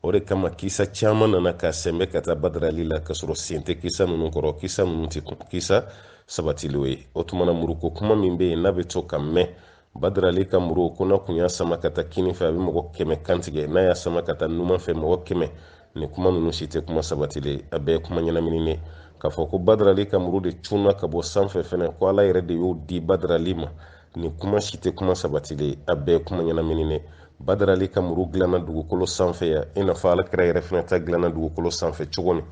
Speaker 1: o de kama kisa caman nana ka sɛnbɛ ka taa badarali la ka sɔrɔ sen tɛ kisa ninnu kɔrɔ kisa ninnu tɛ kisa sabatilen ye o tumana muruko kuma min bɛ yen n'a bɛ to k'a mɛn badrali ka muru ko n'a kun y'a sama ka taa kinin fɛ a bɛ mɔgɔ kɛmɛ kan tigɛ n'a y'a sama ka taa numan fɛ mɔgɔ kɛmɛ nin kuma ninnu si tɛ kuma sabatilen a bɛɛ kuma ɲɛnamininen k'a fɔ ko badrali ka muru de cunna ka bɔ sanfɛ fɛnɛ ko ala yɛrɛ de y'o di badrali ma nin kuma si tɛ kuma sabatilen a bɛɛ kuma ɲɛnamininen badrali ka muru dilanna dugukolo sanfɛ yan i n'a fɔ ala kira yɛrɛ fɛnɛ ta dilanna dugukolo sanfɛ cogo min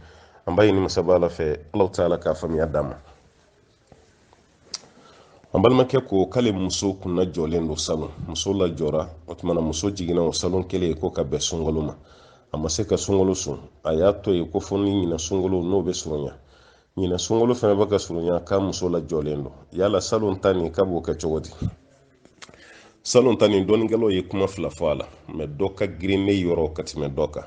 Speaker 1: an b'a ɲini masaba ala fɛ alahu taala ka faamuya d'an ma an balimakɛ ko k'ale muso kun lajɔlen don salon muso lajɔra o tumana muso jiginna o salon kelen ye ko k'a bɛn sunkalo ma a ma se ka sunkalo sun a y'a to ye ko fɔ ni ɲina sunkalo n'o bɛ surunya ɲina sunkalo fana bɛ ka surunya k'a muso lajɔlen don yala salon ta nin k'a b'o kɛ cogo di salon ta nin dɔnnikɛlaw ye kuma fila fɔ a la mɛ dɔ ka girin ne yɔrɔ ka tɛmɛ dɔ kan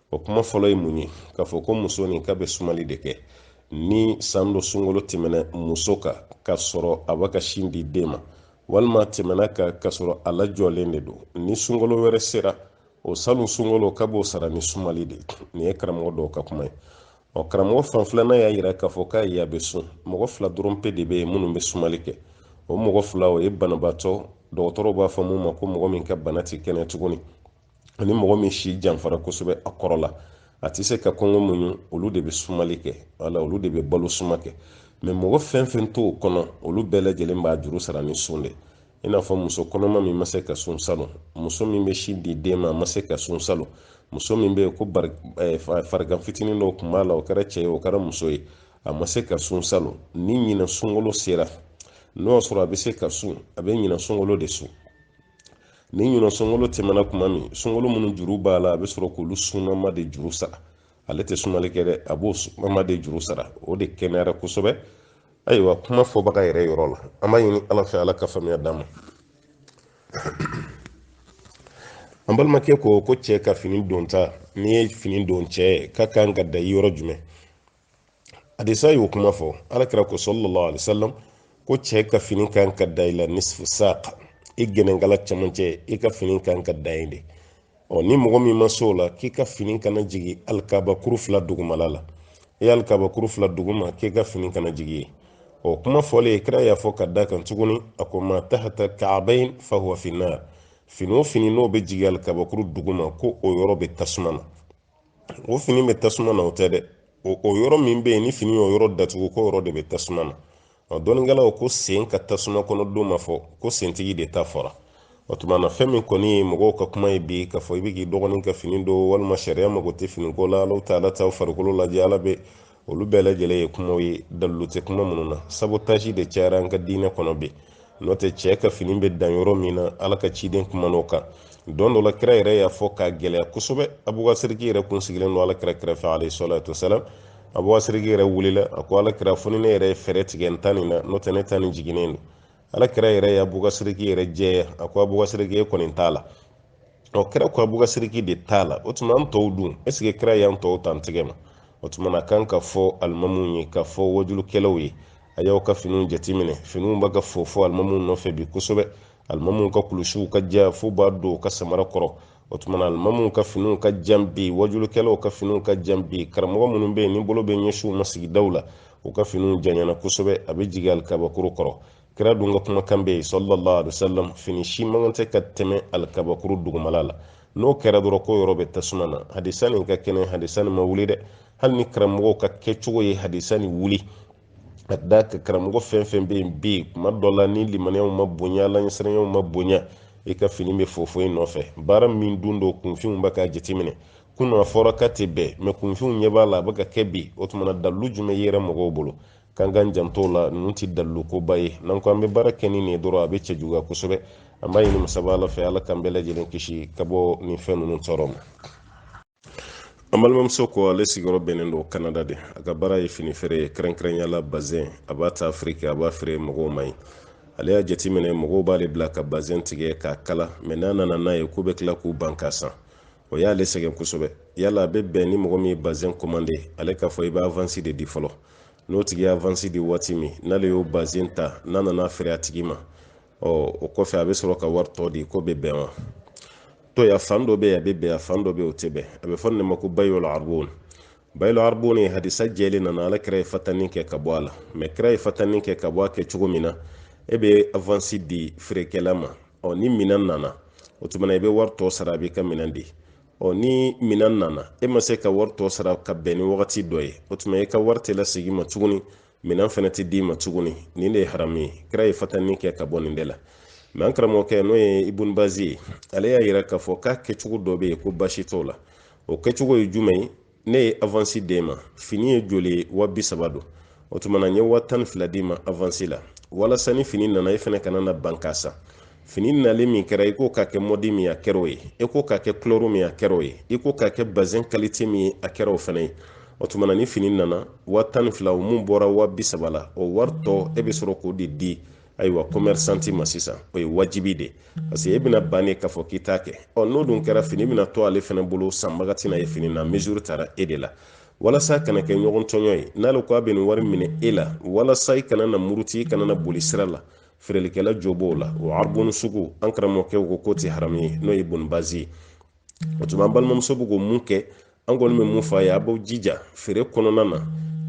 Speaker 1: o kuma fɔlɔ ye mun ye k'a fɔ ko muso nin k'a bɛ sumali de kɛ ni san dɔ sunkalo tɛmɛna muso kan k'a sɔrɔ a b'a ka sin di den ma walima tɛmɛna a kan k'a sɔrɔ a lajɔlen de don ni sunkalo wɛrɛ sera o salon sunkalo k'a b'o sara ni sumali de ye nin ye karamɔgɔ dɔw ka kuma ye ɔ karamɔgɔ fan filanan y'a yira k'a fɔ k'ayi a bɛ sun mɔgɔ fila dɔrɔn pe de bɛ yen minnu bɛ sumali kɛ o mɔgɔ fila o ye banabaatɔ dɔgɔtɔrɔw b'a fɔ min ma ko mɔgɔ min ka bana tɛ kɛnɛya tuguni ani mɔgɔ min si janfara kosɛbɛ a kɔrɔla a tɛ se ka kɔngɔ muɲu olu de bɛ sumali kɛ wala olu de bɛ balo suma kɛ mɛ mɔgɔ fɛn fɛn t'o kɔnɔ olu bɛɛ lajɛlen b'a juru sara ni sun de i n'a fɔ muso kɔnɔma min ma se ka sun salon muso min bɛ sin di den ma a ma se ka sun salon muso min bɛ yen ko eh, farigan fitinin dɔw tun b'a la o kɛra cɛ ye o kɛra muso ye a ma se ka sun salon ni ɲinɛ sunkolo sera n'o y'a sɔrɔ a bɛ se ka sun a bɛ ɲinɛ sunkolo de sun ni ɲinan sunkalo tɛmɛna kuma min sunkalo minnu juru b'a la a bɛ sɔrɔ k'olu sunama de juru sara ale tɛ sumali kɛ dɛ a b'o sunama de juru sara o de kɛnɛyara kosɛbɛ ayiwa kuma fɔbaga yɛrɛ yɔrɔ la an b'a ɲini ala fɛ ala ka faamuya d'a ma an balimakɛ ko ko cɛ ka fini donta n'i ye fini don cɛ ye k'a ka kan ka dan i yɔrɔ jumɛn hadisa y'o kuma fɔ ala kira ko sallallahu alaihi wasallam ko cɛ ka fini ka kan ka dan i la nisfu saqa i gɛnɛnkala cɛmancɛ i ka fini ka kan ka dan yen de ɔ ni mɔgɔ min ma s'o la k'i ka fini kana jigin alikabakuru fila dugumala la i alikabakuru fila duguma k'i ka fini kana jigin yen o kuma fɔlen kira y'a fɔ ka da a kan tuguni a ko ma tahata kaabayin fahuwa finnar fini o fini n'o bɛ jigin alikabakuru duguma ko o yɔrɔ bɛ tasuma na o fini bɛ tasuma na o tɛ dɛ o yɔrɔ min bɛ yen ni fini y'o yɔrɔ datugu k'o yɔrɔ de bɛ tasuma na ɔ dɔnnikɛlaw ko sen ka tasuma kɔnɔ don ma fɔ ko sentigi de ta fɔra o tuma na fɛn min kɔni ye mɔgɔw ka kuma ye bi k'a fɔ i bɛ k'i dɔgɔnin ka fini don walima sariya mago tɛ finiko la ala t'a la taa farikolo lajɛ ala bɛ olu bɛɛ lajɛlen ye kumaw ye dalilu tɛ kuma minnu na sabu taasi de cayara an ka diinɛ kɔnɔ bi n'o tɛ cɛ ka fini bɛ dan yɔrɔ min na ala ka ciden kuman'o kan don dɔ la kira yɛrɛ y'a fɔ k'a gɛlɛya kosɛbɛ abubakasiriki yɛrɛ tun sigilen don ala kira kɛrɛfɛ alayhi salatu wasalam abubakasiriki yɛrɛ wulila a ko ala kira fo ni ne yɛrɛ ye fɛɛrɛ tigɛ n ta nin na n'o tɛ ne ta nin jiginnen don ala kira yɛrɛ ye abubakasiriki yɛrɛ jɛya a ko abubakasiriki e kɔni t'a la ɔ kira ko abubakasiriki de t'a la o tuma an tɔw dun est-ce que kira y'an tɔw ta tigɛ wa o tuma na a ka kan ka fɔ alimamuw ye ka fɔ wajulukɛlaw ye a y'aw ka finiw jateminɛ finiw bɛ ka fofo alimamuw nɔfɛ bi kosɛbɛ alimamuw ka kulusiw ka jan fo b'a don u ka samara kɔrɔ o tuma na alimamuw ka finiw ka jan bi wajulukɛlaw ka finiw ka jan bi karamɔgɔ minnu bɛ yen ni bolo bɛ ɲɛsin u ma sigidaw la u ka finiw janyana kosɛbɛ a bɛ jigin alikabakuru kɔrɔ kira dun ka kumakan bɛ yen sallallahu alaihi wasallam fini si man kan tɛ ka tɛmɛ alikabakuru dugumala la n'o kɛra dɔrɔn k'o yɔrɔ bɛ tasuma na hadisa nin ka kɛnɛ hadisa nin ma wuli dɛ hali ni karamɔgɔ ka kɛcogo ye hadisa nin wuli ka da a kan karamɔgɔ fɛn fɛn bɛ yen bi kuma dɔ la ni limaniyaw ma bonya alaɲɛsiranyaw ma bonya i ka fini bɛ fofo i nɔfɛ baara min dun don kunfinw bɛ k'a jateminɛ kunun a fɔra k'a tɛ bɛn mɛ kunfinw ɲɛ b'a la a bɛ ka kɛ bi o tuma na dalu jumɛn yɛrɛ mɔgɔw bolo k'an k'an janto a la ninnu tɛ dalilukoba ye n'an ko an bɛ baara kɛ ni nin ye dɔrɔn a bɛ cɛjuguya kosɛbɛ an b'a ɲini masaba ala fɛ ala k'an bɛɛ lajɛlen kisi ka bɔ nin fɛn ninnu tɔɔrɔ ma an balimamuso ko ale sigiyɔrɔ bɛnnen don kanada de a ka baara ye fini feere ye kɛrɛnkɛrɛnya la bazɛn a b'a ta afiriki a b'a feere mɔgɔw ma yen ale y'a jateminɛ mɔgɔw b'ale bila ka bazɛn tigɛ k'a kala mɛ n'a nana n'a ye k'u bɛ tila k'u ban k'a san o y'ale sɛgɛn kosɛbɛ yala a bɛ bɛn ni mɔgɔ min ye bazɛn kɔmande ale k'a fɔ i bɛ avansi de di fɔlɔ n'o tigi ye avansi di waati min n'ale y'o bazɛn ta n'a nana feere a tigi ma ɔ o kɔfɛ a bɛ sɔrɔ ka wari tɔ di k'o bɛ bɛn wa to ya fan dɔ bɛ yen a bɛ bɛn a fan dɔ bɛ yen o tɛ bɛn a bɛ fɔ nin de ma ko bayola arbon bayilo arboni ye hadisa jɛlen nana ala kira ye fatani kɛ ka bɔ a la mɛ kira ye fatani kɛ ka bɔ a kɛ cogo min na e bɛ avansi di feerekɛla ma ɔ ni minɛn nana o tuma na i bɛ wari tɔ sara a b'i ka minɛn di ɔ ni minɛn nana e ma se ka wari tɔ sara ka bɛn ni wagati dɔ ye o tuma e ka wari tɛ lasegin ma tuguni minɛn fana tɛ d'i ma tuguni nin de ye haramu ye kira ye fatani kɛ ka bɔ nin de la mɛ an karamɔgɔkɛ n'o ye ibun bazi ye ale y'a yira k'a fɔ k'a kɛcogo dɔ bɛ yen ko basi t'o la o kɛcogo ye jumɛn ye ne ye avansi d'e ma fini ye joli ye wa bi saba don o tuma na n ye wa tan ni fila d'i ma avansi la walasa ni fini nana e fɛnɛ kana na ban k'a san fini nali min kɛra i k'o ka kɛ mɔdi min a kɛr'o ye i k'o ka kɛ kulɛri min a kɛr'o ye i k'o ka kɛ bazɛn kalite min ye a kɛr'o fɛnɛ ye o tuma na ni fini nana wa tan ni fila o mun bɔra wa bi saba la o wari tɔ e bɛ sɔrɔ k'o de di ayiwa kɔmɛrisanti ma sisan o ye wajibi de parce que e bɛna ban de k'a fɔ k'i t'a kɛ ɔ n'o dun kɛra fini bɛna to ale fana bolo sanbaga tɛna ye fini na mesure tara e de la walasa kana kɛ ɲɔgɔn tɔɲɔ ye n'ale ko a bɛ nin wari minɛ e la walasa i kana na muruti i kana na boli sira la feerelikɛla jo b'o la o aribonu sugu an karamɔgɔkɛ o ko k'o tɛ haramu ye n'o ye ibun bazi ye o tuma an balimamuso bɛ ko mun kɛ an kɔni bɛ mun fɔ a ye a b'a jija feere kɔnɔna na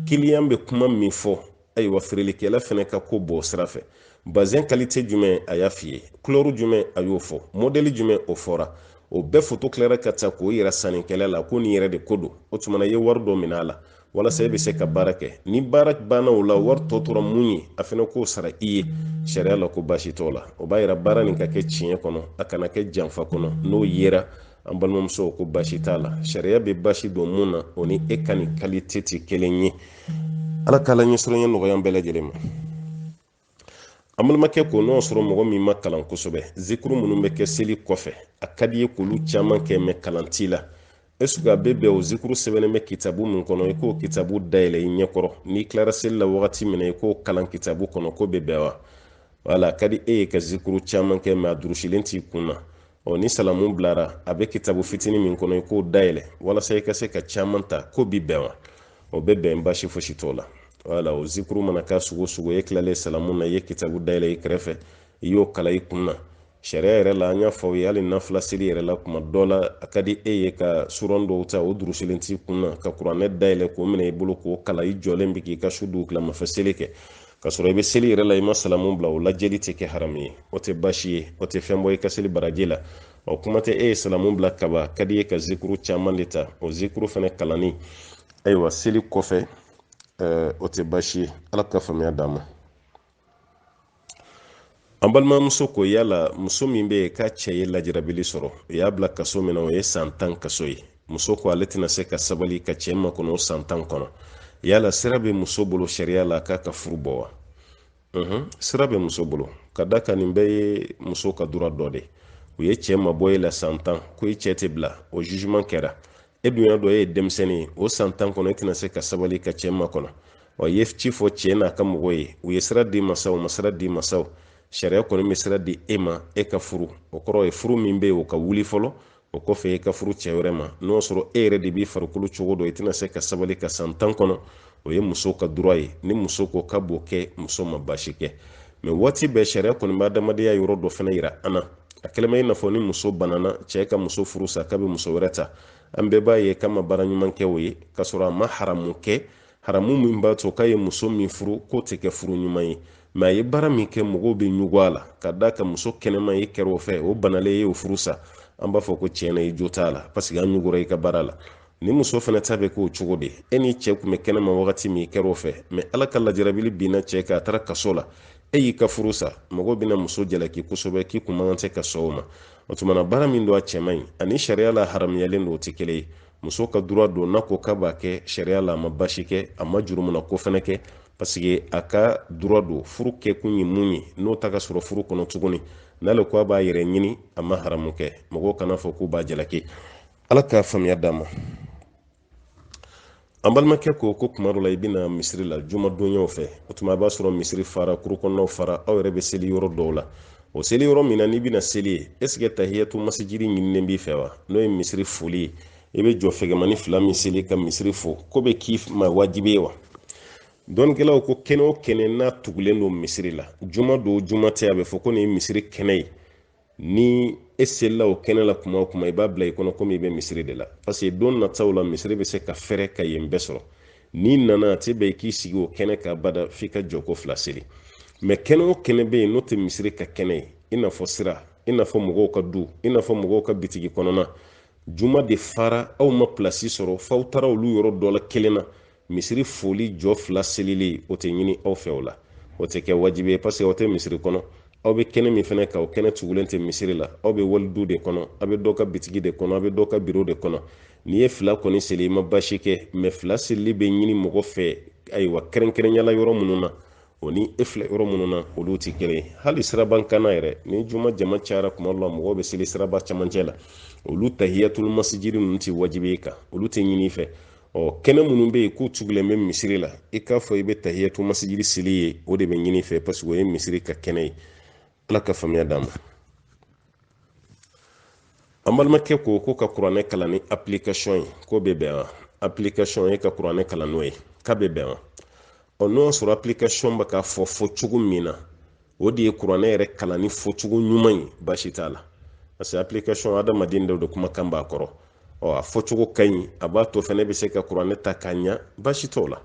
Speaker 1: kiliyan bɛ kuma min fɔ ayiwa feerelikɛla fana ka ko bɔ o sira fɛ bazɛn kalite jumɛn a y'a f'i ye kulɛri jumɛn a y'o fɔ mɔdɛli jumɛn o fɔra o bɛɛ foto tilara ka ta k'o yira sannikɛla la ko nin yɛrɛ de ko don o tuma i ye wari dɔ minɛ a la walasa e bɛ se ka baara kɛ ni baara banna o la wari tɔ tora mun ye a fana k'o sara i ye sariya la ko baasi t'o la o b'a yira baara nin ka kɛ tiɲɛ kɔnɔ a kana kɛ janfa kɔnɔ n'o yera an balimamuso ko baasi t'a la sariya bɛ baasi don mun na o ni e ka nin kalite tɛ kelen ye ala k'ala ɲɛsiranɲɛ nɔgɔya bɛɛ lajɛlen ma an balimakɛ ko n'o sɔrɔ mɔgɔ min ma kalan kosɛbɛ zikuru minnu bɛ kɛ seli kɔfɛ a ka di i ye k'olu caman kɛ mɛ kalan t'i la esuke a bɛ bɛn o zikuru sɛbɛnnen bɛ kitabu min kɔnɔ i k'o kitabu dayɛlɛ i ɲɛkɔrɔ n'i tilara seli la wagati min na i k'o kalan kitabu kɔnɔ k'o bɛ bɛn wa wala a ka di e ye ka zikuru caman kɛ mɛ a durusilen t'i kun na ɔ ni salamu bilara a bɛ kitabu fitinin min kɔnɔ i k'o dayɛlɛ walasa i ka se ka caman ta k'o bɛ bɛn wa o bɛ bɛn basi fosi t'o la wala o zikuru mana kɛ sugu o sugu ye i tilalen salamu na i ye kitabu dayɛlɛ i kɛrɛfɛ i y'o kalan i kun na sariya yɛrɛ la an y'a fɔ aw ye hali nafila seli yɛrɛ la kuma dɔ la a ka di e ye ka suran dɔw ta o durusilen t'i kun na ka kuranɛ dayɛlɛ k'o minɛ i bolo k'o kalan i jɔlen bi k'i ka su dugutilamafɛ seli kɛ ka sɔrɔ i bɛ seli yɛrɛ la i ma salamu bila o lajɛli tɛ kɛ haramu ye o tɛ baasi ye o tɛ fɛn bɔ i ka seli baraji la o kuma tɛ e ye salamu bila kaban ka di ye ka zikuru caman de ta o zikuru fana kalanni ayiwa seli kɔfɛ o tɛ baasi ye ala ka faamuya d'an ma an balimamuso ko yala muso min bɛ yen k'a cɛ ye lajarabili sɔrɔ u y'a bila kaso min na o ye san tan kaso ye muso ko ale tɛna se ka sabali ka cɛ makɔnɔ o san tan kɔnɔ yala sira bɛ muso bolo sariya la k'a ka furu bɔ wa sira bɛ muso bolo ka d'a kan nin bɛɛ ye muso ka droit dɔ de u ye cɛ mabɔ e la san tan ko i cɛ tɛ bila o jugement kɛra e dun y'a dɔn e ye denmisɛnnin ye o san tan kɔnɔ e tɛna se ka sabali ka cɛ makɔnɔ wa ye ci fɔ cɛ n'a ka mɔgɔw ye u ye sira d'i ma sa u ma sira d'i ma sa sariya kɔni bɛ sira di e ma e ka furu o kɔrɔ ye furu min bɛ yen o ka wuli fɔlɔ o kɔfɛ e ka furu cɛ wɛrɛ ma n'o sɔrɔ e yɛrɛ de b'i farikolo cogo dɔn i tɛna se ka sabali ka san tan kɔnɔ o ye muso ka droit ye ni muso ko k'a b'o kɛ muso ma baasi kɛ mɛ waati bɛɛ sariya kɔni bɛ adamadenya yɔrɔ dɔ fana yira an na a kɛlen bɛ i n'a fɔ ni muso banana cɛɛ ka muso furu sa k'a be muso wɛrɛ ta an bɛɛ b'a ye k'a ma baara ɲuman kɛ o ye k'a sɔrɔ a ma haramu kɛ haramu min b'a to k'a ye muso min furu k'o tɛ kɛ furu ɲuman ye mɛ a ye baara min kɛ mɔgɔw be ɲugu a la ka d'a kan muso kɛnɛma e kɛra o fɛ o banalen i ye o furu sa an b'a fɔ ko tiɲɛ na i jo t'a la paseke an ɲugura i ka baara la ni muso fana ta bɛ k'o cogo de e ni cɛ tun bɛ kɛnɛma wagati min i kɛra o fɛ mɛ ala ka lajarabili binna cɛ kan a taara kaso la e y'i ka furu sa mɔgɔw bɛna muso jalaki kosɛbɛ k'i tun man kan ka sɔn o ma o tuma na baara min don a cɛ man ɲi ani sariya la haramuyalen don o tɛ kelen ye muso ka droit don n'a ko k'a b'a kɛ sariya la a ma baasi kɛ a ma jurumuna ko fana kɛ paseke a ka droit don furu kɛkun ye mun ye n'o tɛ ka sɔrɔ furu kɔnɔ tuguni n'ale ko a b'a yɛrɛ ɲini a ma haramu kɛ mɔgɔw kana fɔ k'u b'a jalaki ala ka faamuya d'an ma an balimakɛ ko ko kuma dɔ la i bɛ na misiri la jumadonyaw fɛ o tuma a b'a sɔrɔ misiri fara cour kɔnɔnaw fara aw yɛrɛ bɛ seli yɔrɔ dɔw la o seli yɔrɔ min na n'i bɛna seli ye esike tahiyatu masijidi ɲininen b'i fɛ wa n'o ye misiri foli ye i bɛ jɔ fɛgɛmani fila min seli ka misiri fo k'o bɛ k'i ma wajibi ye wa dɔnnikɛlaw ko kɛnɛ o kɛnɛ n'a tugulen don misiri la juma don juma tɛ a bɛ fɔ ko nin ye misiri kɛnɛ ye ni e selila o kɛnɛ la kuma o kuma i b'a bila i kɔnɔ komi i bɛ misiri de la parce que don nataw la misiri bɛ se ka fɛrɛ ka yen bɛɛ sɔrɔ n'i nana a tɛ bɛn i k'i sigi o kɛnɛ kan bada f'i ka jɔko fila seli mɛ kɛnɛ o kɛnɛ bɛ yen n'o tɛ misiri ka kɛnɛ ye i n'a fɔ sira i n'a fɔ mɔgɔw ka du i n'a fɔ mɔgɔw ka bitigi kɔnɔna juma de fara aw ma pilasi sɔrɔ f'aw taara olu yɔrɔ dɔ la kelen na misiri foli jɔ fila selili o tɛ ɲini aw fɛ o la o tɛ kɛ wajibi ye paseke aw tɛ misiri kɔnɔ aw bɛ kɛnɛ min fana kan o kɛnɛ tugulen tɛ misiri la aw bɛ wali du de kɔnɔ aw bɛ dɔ ka bitigi de kɔnɔ aw bɛ dɔ ka biro de kɔnɔ n'i ye fila kɔni seli i ma baasi kɛ mɛ fila selili bɛ ɲini mɔgɔ fɛ ayiwa kɛrɛnkɛrɛnyala yɔrɔ minnu na o ni e filɛ yɔrɔ minnu na olu tɛ kelen ye hali siraba kanna yɛrɛ ni juma jama cayara tuma dɔ la mɔgɔw bɛ seli siraba camancɛ la olu tahiyatulu masijiri ninnu tɛ wajibi i kan olu tɛ ɲini i fɛ ɔ kɛnɛ minnu bɛ yen k'u tugulen bɛ misiri la i k'a fɔ i bɛ tahiyatu masijiri seli yen o de bɛ ɲini i fɛ paseke o ye misiri ka kɛnɛ ye ala ka faamuya d'a ma an balimakɛ ko ko ka kuranɛ kalan ni application ye k'o bɛ bɛn wa application ye ka kuranɛ kalan n'o ye k'a bɛ bɛn wa ɔ n'o y'a sɔrɔ application bɛ k'a fɔ fɔ cogo min na o de ye kuranɛ yɛrɛ kalanni fɔcogo ɲuman ye baasi t'a la parce que application adamaden dɔ de kumakan b'a kɔnɔ ɔ a fɔcogo ka ɲi a b'a to i fɛnɛ bɛ se ka kuranɛ ta k'a ɲa baasi t'o la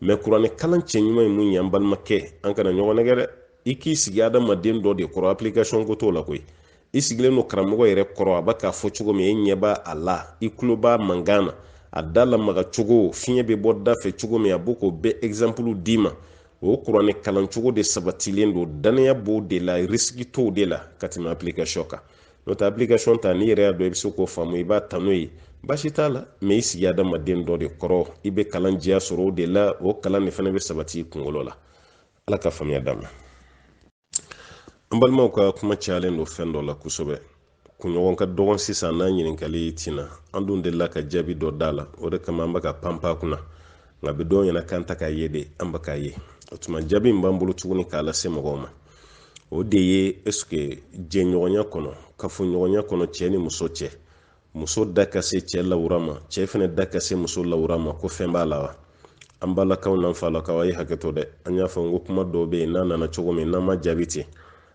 Speaker 1: mɛ kuranɛ kalancogo ɲuman ye mun ye an balimakɛ an kana ɲɔgɔn nɛgɛn dɛ i k'i sigi adamaden dɔ de kɔrɔ application ko t'o la koyi i sigilen don karamɔgɔ yɛrɛ kɔrɔ a bɛ k'a fɔ cogo min e ɲɛ b'a da la i tulo b'a mankan na a da lamaga cogo fiɲɛ bɛ bɔ da fɛ cogo min a b'o ko bɛɛ exemple d'i ma o kuranɛ kalancogo de sabatilen don dannaya b'o de la risiki t'o de la ka tɛmɛ application kan n'o tɛ application ta n'i yɛrɛ y'a dɔn i bɛ se k'o faamu i b'a ta n'o ye baasi t'a la mɛ i sigi adamaden dɔ de kɔrɔ i bɛ kalan jɛya sɔrɔ o de la o kalan de fana bɛ sabati i kunkolo la ala ka faamuya d'a ma an balimaw ka kuma cayalen don fɛn dɔ la kosɛbɛ kunɲɔgɔn ka dɔgɔ sisan n'a ɲininkali tɛ na an dun delila ka jaabi dɔ d'a la o de kama an bɛ ka panpan a kunna nka bi dɔw ɲɛna k'an tɛ k'a ye de an bɛ k'a ye o tuma jaabi min b'an bolo tuguni k'a lase mɔgɔw ma o de ye ɛseke jɛɲɔgɔnya kɔnɔ kafoɲɔgɔnya kɔnɔ cɛ ni muso cɛ muso da ka se cɛ lawura ma cɛ fana da ka se muso lawura ma ko fɛn b'a la wa an balakaw n'an falakaw a ye hakɛ to dɛ an y'a fɔ n ko kuma dɔw bɛ yen n'a nana cogo min n'an m'a jaabi ten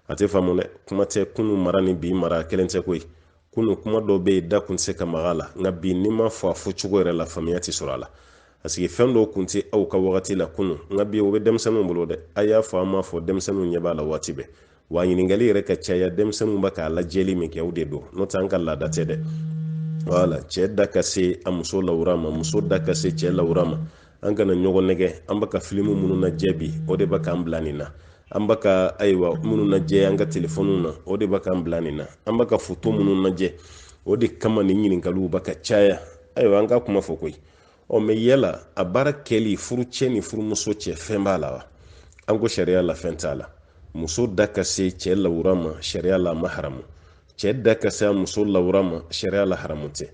Speaker 1: a tɛ faamu dɛ kuma tɛ kunu mara ni bi mara kelen tɛ koyi kunu kuma dɔw bɛ yen da kun tɛ se ka maga a la nka bi n'i m'a fɔ a fɔ cogo yɛrɛ la faamuya tɛ sɔrɔ a la paseke fɛn dɔw kun tɛ aw ka wagati la kunu nka bi o bɛ denmisɛnninw bolo dɛ a y'a fɔ an m'a fɔ denmisɛnninw ɲɛ b'a la waati bɛɛ wa ɲininkali yɛrɛ ka caya denmisɛnninw bɛ k'a lajɛli min kɛ o de don n'o tɛ an ka laada tɛ dɛ wala cɛ da ka se a muso lawura ma muso da ka se cɛ lawura ma an kana ɲɔgɔn nɛgɛn an bɛ ka filimu minnu lajɛ bi o de bɛ k'an bila nin na an bɛ ka ayiwa minnu lajɛ an ka telefɔniw na o de bɛ k'an bila nin na an bɛ ka foto minnu lajɛ o de kama nin ɲininkaliw bɛ ka caya ayiwa an ka kuma fɔ koyi ɔ mɛ yala a baara kɛli furucɛ ni furumuso cɛ fɛn b'a la wa an ko sariya la fɛn t'a la muso da ka se cɛ lawura ma sariya la ma haramu cɛ da ka se a muso lawura ma sariya la haramu tɛ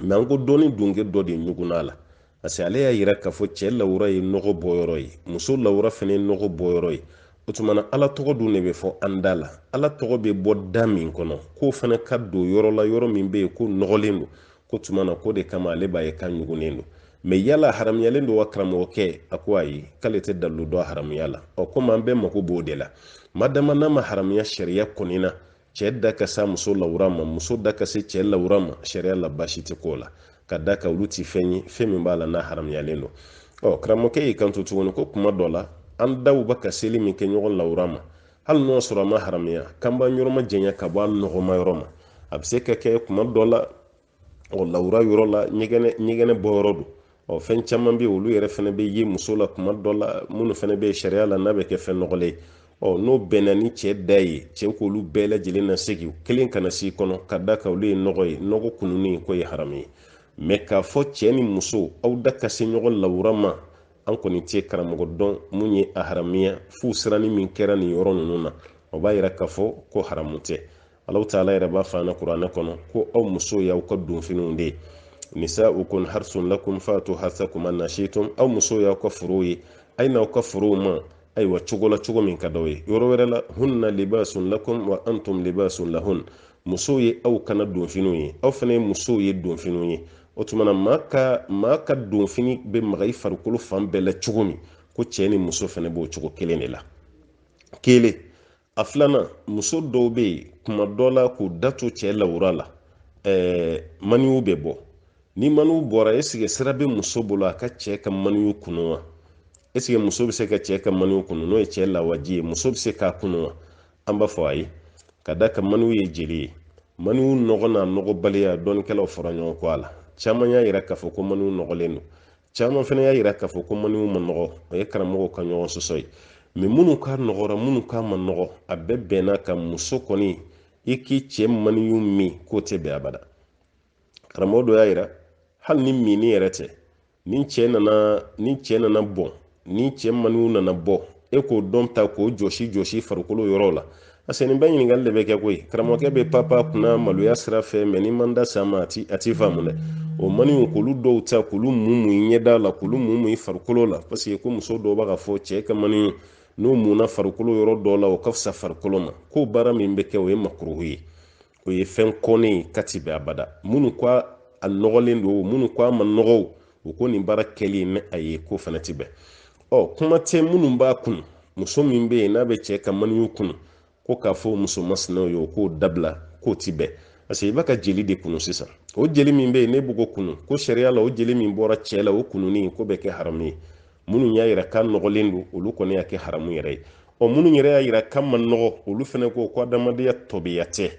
Speaker 1: mɛ an ko dɔɔni dunke dɔ de ɲugunna la parce que ale y'a yira k'a fɔ cɛ lawura ye nɔgɔ bɔyɔrɔ ye muso lawura fana ye nɔgɔ bɔyɔrɔ ye o tuma na ala tɔgɔ dun de bɛ fɔ an da la ala tɔgɔ bɛ bɔ da min kɔnɔ k'o fana ka don yɔrɔ la yɔrɔ min bɛ yen k'o nɔgɔlen don k'o tuma na k'o de kama ale b'a ye k'a ɲugunnen don mɛ yala haramuyalen don wa karamɔgɔkɛ a ko ayi k'ale tɛ dalilu dɔn haramuya la ɔ komi an bɛɛ mako b'o de la madama n'a ma haramuya sariya kɔni na cɛɛ da ka se muso lawura ma muso da ka se cɛɛ lawura ma sariya la basi tɛ ko la ka d'a kan olu ti fɛn ye fɛn min b'a la n'a haramuyalen don ɔ karamɔgɔkɛ y'i kanto tuguni ko kuma dɔ la an daw bɛ ka seli min kɛ ɲɔgɔn lawura ma hali n'o sɔrɔ a ma haramuya kanba yɔrɔ ma janya ka bɔ a nɔgɔman yɔrɔ ma a bɛ se ka kɛ kuma dɔ la ɔ lawura yɔrɔ la ɲɛgɛnɛ ɲɛgɛnɛ bɔ yɔrɔ don ɔ fɛn caman bɛ yen olu yɛrɛ fana bɛ yen muso la kuma dɔ la minnu fana bɛ sariya la n'a bɛ kɛ fɛn nɔgɔlen ye ɔ n'o bɛnna ni cɛ da ye cɛ k'olu bɛɛ lajɛlen na segin kelen kana s'i kɔnɔ ka d'a kan olu ye nɔgɔ ye nɔgɔ kununni k'o ye haramu ye mɛ k'a fɔ cɛ ni muso aw da ka se ɲɔgɔn lawura ma an kɔni tɛ karamɔgɔ dɔn mun ye a haramuya f'u siranni min kɛra nin yɔrɔ ninnu na o b'a yira k'a fɔ ko haramu tɛ alahu taala yɛrɛ b'a fɔ an na kuranɛ kɔnɔ ko aw musow y'aw ka donfiniw de ye nisaukum harisun lakum fatu harsakum ana situm aw musow y'aw ka forow ye a ye n'aw ka forow ma ayiwa cogo la cogo min ka d'aw ye yɔrɔ wɛrɛ la hunna libasun lakum wa antum libasun lahun musow ye aw kana donfiniw ye aw fana ye musow ye donfiniw ye o tuma na maa ka maa ka donfini bɛ maga i farikolo fan bɛɛ la cogo min ko cɛ ni muso fana b'o cogo kelen de la kelen a filanan muso dɔw bɛ yen kuma dɔ la k'u da to cɛ lawura la ɛɛ maniw bɛ bɔ ni maniw bɔra esike sira bɛ muso bolo a ka cɛ ka maniw kunu wa esike muso bɛ se ka cɛ ka maniw kunu n'o ye cɛ lawaji ye muso bɛ se k'a kunu wa an b'a fɔ a ye ka d'a kan maniw ye jeli ye maniw nɔgɔ n'a nɔgɔbaliya dɔnnikɛlaw fɔra ɲɔgɔn kɔ a la caman y'a yira k'a fɔ ko maniw nɔgɔlen don caman fana y'a yira k'a fɔ ko maniw ma nɔgɔ o ye karamɔgɔw ka ɲɔgɔn sɔsɔ ye mɛ minnu k'a nɔgɔra minnu k'a ma nɔgɔ a bɛɛ bɛnn'a kan muso kɔni i k'i cɛ maniw min k'o tɛ bɛn abada karamɔgɔ dɔ y'a yira hali ni minni yɛrɛ tɛ ni cɛ nana ni cɛ nana bɔn ni cɛ maniw nana bɔ e k'o dɔ ta k'o jɔsi jɔsi farikolo yɔrɔw la parce que nin bɛɛ ɲininkali de bɛ kɛ koyi karamɔgɔkɛ bɛ panpan kunna maloya sira fɛ mɛ n'i ma da s'a ma a ti a ti faamu dɛ o maniw k'olu dɔw ta k'olu mumu i ɲɛda la k'olu mumu i farikolo la parce que ko muso dɔw bɛ k'a fɔ cɛ ka maniw n'o munna farikolo yɔrɔ dɔ la o ka fisa farikolo ma k'o baara min bɛ kɛ o ye makuruhu ye o ye fɛn kɔnnen ye k'a ti bɛn abada minnu ko a nɔgɔlen don minnu ko a ma nɔgɔ u ko nin baara kɛli nin ayi k'o fana ti bɛn ɔ kuma tɛ minnu b'a kunu muso min bɛ yen n'a bɛ cɛ ka maniw kunu ko k'a fɔ muso masinaw ye u k'o dabila k'o ti bɛn parce que i b'a ka jeli de kunu sisan o jeli min bɛ yen n'i b'o ko kunu ko sariya la o jeli min bɔra cɛ la o kununi k'o bɛ kɛ haramu ye minnu y'a yira k'a nɔgɔlen don olu kɔni y'a kɛ haramu yɛrɛ ye ɔ minnu yɛrɛ y'a yira k'a ma nɔgɔ olu fana ko ko adamadenya tɔbiya tɛ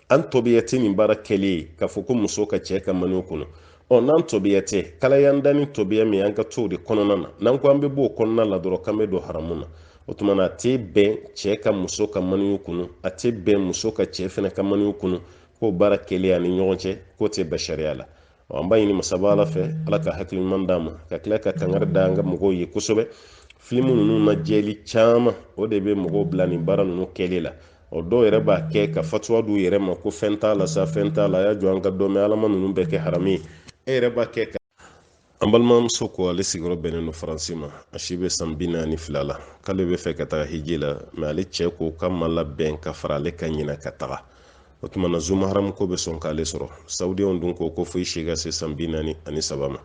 Speaker 1: an tɔbiya tɛ nin baara kɛlen ye k'a fɔ ko muso ka cɛ ka maniw kunu ɔ n'an tɔbiya tɛ k'ala y'an da ni tɔbiya min an ka to o de kɔnɔna na n'an ko an bɛ bɔ o kɔnɔna la dɔrɔn k'an bɛ don haramu na o tuma na a tɛ bɛn cɛ ka muso ka maniw kunu a tɛ bɛn muso ka cɛ fana ka maniw kunu k'o baara kɛlen an ni ɲɔgɔn cɛ k'o tɛ bɛn sariya la an b'a ɲini masaba ala fɛ ala ka hakili ɲuman d'an ma ka tila ka kangari da an ka mɔgɔw ye kosɛbɛ filimu ninnu lajɛli caman o de bɛ mɔgɔw bila nin baara ninnu kɛli la o dɔw yɛrɛ b'a kɛ ka fatuwa d'u yɛrɛ ma ko fɛn t'a la sa fɛn t'a la a y'a jɔ an k'a dɔn ala ma ninnu bɛɛ kɛ haramu ye e yɛrɛ b'a kɛ ka an balimamuso ko ale sigiyɔrɔ bɛnnen don faransi ma a si bɛ san bi naani ni fila la k'ale b'a fɛ ka taga hiji la mɛ ale cɛ ko k'a ma labɛn ka fara ale kan ɲinan ka taga o tuma na zumaharamu ko bɛ sɔn k'ale sɔrɔ saudiyanw dun ko ko fo i si ka se san bi naani ani saba ma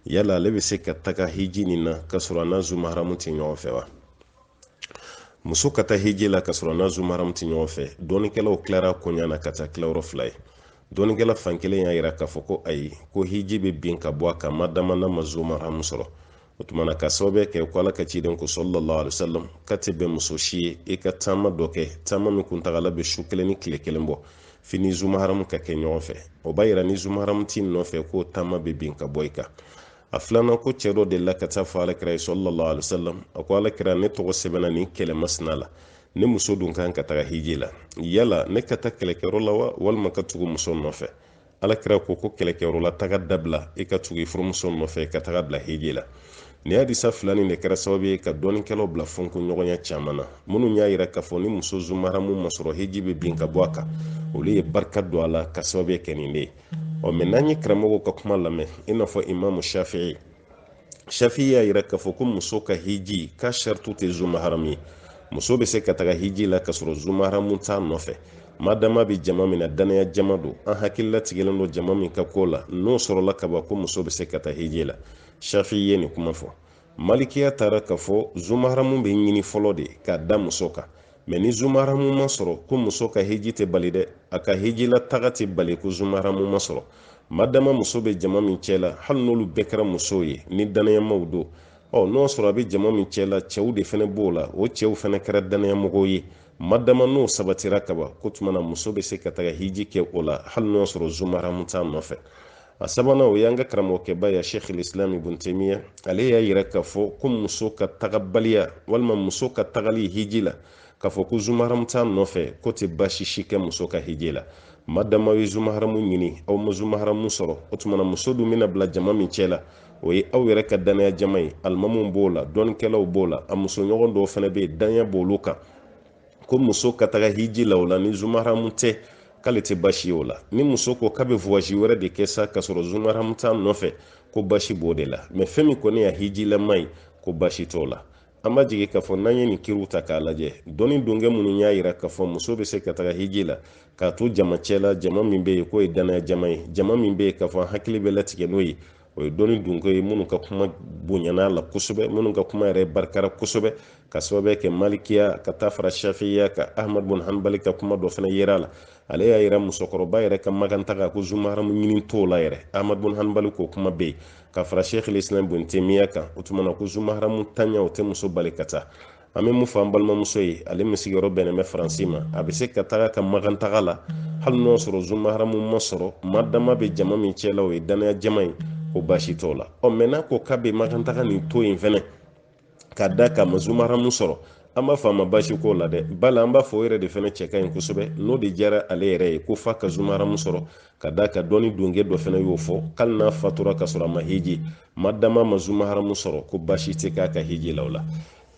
Speaker 1: yala ale bɛ se ka taga hiji nin na k'a sɔrɔ a n'a zumaharamu tɛ ɲɔgɔn fɛ wa muso ka taa hiji la k'a sɔrɔ a n'a zumaharamu tɛ ɲɔgɔn fɛ dɔnnikɛlaw tilara koɲa na ka kɛ tilayɔrɔ fila ye dɔnnikɛla fan kelen y'a yira k'a fɔ ko ayi ko hiji bɛ bin ka bɔ a kan madama n'a ma zumaharamu sɔrɔ o tuma na k'a sababu kɛ ko ala ka ciden ko sallallahu alaihi wasallam k'a tɛ bɛn muso si ye i ka taama dɔ kɛ taama min kuntagala bɛ su kelen ni tile kelen bɔ f'i ni zumaharamu ka kɛ ɲɔgɔn fɛ o b'a yira ni zumaharamu t'i nɔfɛ k'o taama bɛ bin ka bɔ i kan a filanan ko cɛ dɔ delila ka taa a fɔ ala kira ye sallallahu alaihi wasallam a ko ala kira ne tɔgɔ sɛbɛnna nin kɛlɛ masina la ne muso dun kan ka taga hiji la yala ne ka taa kɛlɛkɛyɔrɔ la wa walima ka tugu muso nɔfɛ ala kira ko ko kɛlɛkɛyɔrɔ la taga dabila i ka tugu i furumuso nɔfɛ ka taga bila hiji la nin hadisa fila nin de kɛra sababu ye ka dɔnnikɛlaw bila fɔnkɔɲɔgɔnya caman na minnu y'a yira k'a fɔ ni muso zumaharamu ma sɔrɔ hiji bɛ bin ka bɔ a kan olu ye barika don a la k'a sababu kɛ nin de ye ɔ mɛ n'an ye karamɔgɔw ka kuma lamɛn i n'a fɔ imamu shafi'i shafi'i y'a yira k'a fɔ ko muso ka hiji ka saritu tɛ zumaharamu ye muso bɛ se ka taga hiji la k'a sɔrɔ zumaharamu t'a nɔfɛ madama a bɛ jama min na dannaya jama don an hakili latigɛlen don jama min ka ko la n'o sɔrɔla ka ban ko muso bɛ se ka taa hiji la shafi'i ye nin kuma fɔ malikiya taara k'a fɔ zumaharamu bɛ ɲini fɔlɔ de k'a da muso kan mɛ ni zumaharamu ma sɔrɔ ko muso ka hiji tɛ bali dɛ a ka hijila taga tɛ bali ko zumaharamu ma sɔrɔ madama muso bɛ jama min cɛ la hali n'olu bɛɛ kɛra musow ye ni dannayamaw don ɔ n'o sɔrɔ a bɛ jama min cɛ la cɛw de fana b'o la o cɛw fana kɛra dannayamɔgɔw ye madama n'o sabatira kaban k'o tuma na muso bɛ se ka taga hiji kɛ o la hali n'o sɔrɔ zumaharamu t'a nɔfɛ a sabanan o y'an ka karamɔgɔkɛba ye sheikh lislam ibn temiya ale y'a yira k'a fɔ ko muso ka tagabaliya walima muso ka tagali hiji la k'a fɔ ko zumaharamu t'a nɔfɛ k'o tɛ baasi si kɛ muso ka hiji la ma dama ye zumaharamu ɲini aw ma zumaharamu sɔrɔ o tumana muso dun bɛna bila jama min cɛ la o ye aw yɛrɛ ka dannaya jama ye alimamu b'o la dɔnnikɛlaw b'o la a musoɲɔgɔn dɔw fana bɛ yen dannaya b'olu kan ko muso ka taga hiji la o la ni zumaharamu tɛ k'ale tɛ basi ye o la ni muso ko k'a bɛ vuwazi wɛrɛ de kɛ sa k'a sɔrɔ zumaharamu t'a nɔfɛ ko basi b'o de la mɛ fɛn min kɔni y'a hijilama ye ko basi t'o la an b'a jigi k'a fɔ n'an ye nin kiriw ta k'a lajɛ dɔnni donkɛ minnu y'a yira k'a fɔ muso bɛ se ka taga hiji la k'a to jama cɛ la jama min bɛ yen k'o ye dannaya jama ye jama min bɛ yen k'a fɔ an hakili bɛ latigɛ n'o ye o ye dɔnni donkɛw ye minnu ka kuma bonyana la kosɛbɛ minnu ka kuma yɛrɛ barikara kosɛbɛ ka sababu kɛ malikiya ka taa fara shafiya kan ahmad bun hanbali ka kuma dɔ fana yirala ale y'a yira musokɔrɔba yɛrɛ ka magan taa kan ko zumaharamu ɲini t'o la yɛrɛ ahmad bun hanbali k'o kuma bɛ yen ka fara sheikh lislam bun temiya kan o tuma na ko zumaharamuntanya o tɛ muso bali ka taa an bɛ mun fɔ an balimamuso ye ale min sigiyɔrɔ bɛnnen bɛ faransi ma a bɛ se ka taga ka magan taga la hali n'o sɔrɔ zumaharamu ma sɔrɔ ma dama bɛ jama min cɛla o ye dannaya jama ye ko baasi t'o la ɔ mɛ n'a ko k'a bɛ magan taga nin to yen fɛnɛ ka d'a kan a ma zumaharamu sɔrɔ an b'a fɔ a ma baasi t'o la dɛ bala an b'a fɔ o yɛrɛ de fɛnɛ cɛ ka ɲi kosɛbɛ n'o de diyara ale yɛrɛ ye ko f'a ka zumaharamu sɔrɔ ka d'a kan dɔnni donkɛ dɔ fɛnɛ y'o fɔ k'ali n'a fatura k'a sɔrɔ a ma hiji ma dama a ma zumaharamu sɔrɔ ko basi tɛ k'a ka hiji la o la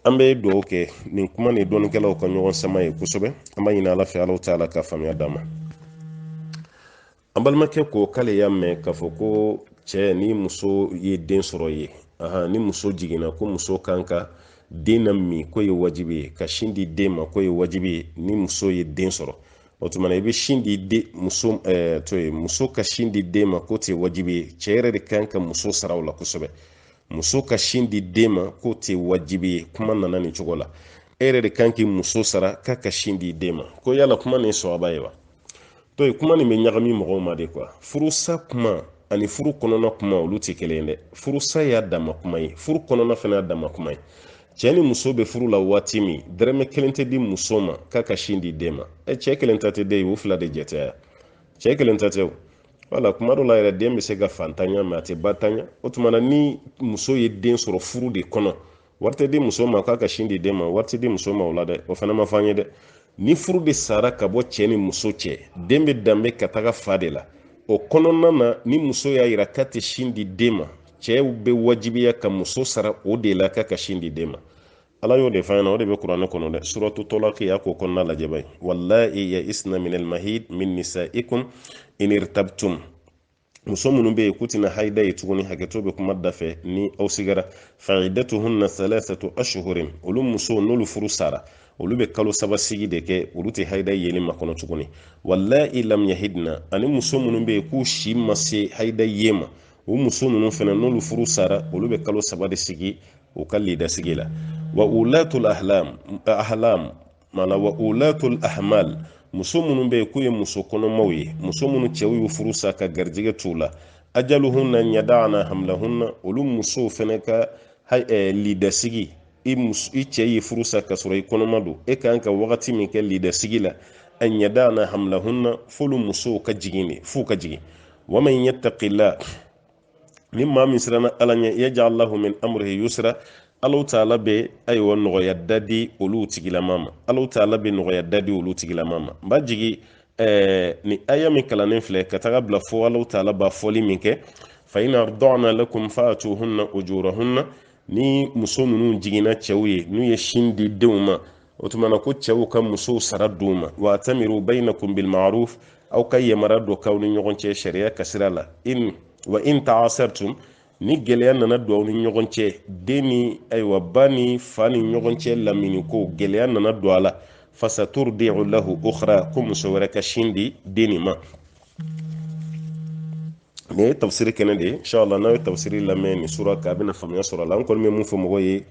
Speaker 1: an bɛ dugawu kɛ nin kuma ni dɔnnikɛlaw ka ɲɔgɔn sama ye kosɛbɛ an b'a ɲini ala fɛ alahu ta'ala ka faamuya d'an ma an balimakɛ ko k'ale y'a mɛn k'a fɔ ko cɛ ni muso ye den sɔrɔ ye ni muso jiginna ko muso kan ka den namin k'o ye wajibi ye ka sin di den ma k'o ye wajibi ye ni muso ye den sɔrɔ o tuma na i bɛ sin di de muso to ye muso ka sin di den ma k'o tɛ wajibi ye cɛ yɛrɛ de kan ka muso sara o la kosɛbɛ muso ka sin di den ma k'o tɛ wajibi ye kuma nana nin cogo la e yɛrɛ de kan k'i muso sara k'a ka sin di den ma ko yala kuma nin sɔrɔba ye wa to ye kuma nin bɛ ɲagami mɔgɔw ma de kuwa furusa kuma ani furu kɔnɔna kuma olu tɛ kelen ye dɛ furusa y'a dama kuma ye furu kɔnɔna fana y'a dama kuma ye cɛɛ ni muso be furu la waati min dɔrɔmɛ kelen tɛ di muso ma k'a ka sin di den ma e cɛɛ kelen ta tɛ den ye u fila de jɛ ta ye cɛɛ kelen ta tɛ wala kuma dɔ la yɛrɛ den be se ka fantanya mɛ a tɛ bantanya o tumana ni muso ye den sɔrɔ furu de kɔnɔ wari tɛ di muso ma k'a ka sin di den ma wari tɛ di muso ma o la dɛ o fana ma fɔ an ye dɛ ni furu de sara ka bɔ cɛɛ ni muso cɛ den be danbe ka taga fa de la o kɔnɔna na ni muso y'a yira k'a tɛ sin di den ma cɛw bɛ wajibiya ka muso sara o de la k'a ka sin di den ma ala y'o de fɔ an ɲɛ na o de bɛ kuranɛ kɔnɔ dɛ suratu talaki y'a k'o kɔnɔna lajɛ b'a ye walayi yaisna minal mahid min nisaikum in irtabtum muso minnu bɛ yen k'u tɛna haida ye tuguni hakɛto bɛ kuma da fɛ ni aw sigara faiddatuhunna salasatu ashhurin olu musow n'olu furu sara olu bɛ kalo saba sigi de kɛ olu tɛ haida yeli makɔnɔ tuguni walayi lam yahidna ani muso minnu bɛ yen k'u si ma se haida ye ma o muso ninnu fana n'olu furu sara olu bɛ kalo saba de sigi u ka lidasigi la wa ulatul ahlam ahlam mana wa ulatul ahmal muso minnu bɛ yen k'u ye muso kɔnɔmaw ye muso minnu cɛw y'u furu sa ka garijɛgɛ t'u la ajaluhunna an yadaana hamlahunna olu musow fana ka lidasigi i muso i cɛ y'i furu sa k'a sɔrɔ i kɔnɔma don e kan ka wagati min kɛ lidasigi la an yadaana hamlahunna f'olu musow ka jigin de f'u ka jigin waman yattaqillah ni maa min siranna ala ɲɛ yajal lahu min amrihi yusra alahu taala bɛ ayiwa nɔgɔya da di olu tigilama ma alahu taala bɛ nɔgɔya da di olu tigilama ma n b'a jigi ɛɛ ni aya min kalannen filɛ ka taga bila fo alahu taala b'a fɔli min kɛ fa in ardaana lakum faatuhunna ujurahunna ni muso ninnu jiginna cɛw ye n'u ye sin di denw ma o tuma na ko cɛw ka musow sara d'u ma wa tamiru bayinakum bilmaruf aw ka yamara dɔ k'aw ni ɲɔgɔn cɛ sariya ka sira la in wa in taasartum ni gɛlɛya nana don aw ni ɲɔgɔn cɛ den ni ayiwa ba ni fa ni ɲɔgɔn cɛ lamini ko gɛlɛya nana don a la fasaturdi'u lahu ukhra ko muso wɛrɛ ka sin di den nin ma nin ye tafsiri kɛnɛ de ye inshallah n'a ye tafsiri lamɛn nin sura kan a bɛna faamuya sɔrɔ a la n kɔni bɛ mun fɔ mɔgɔ ye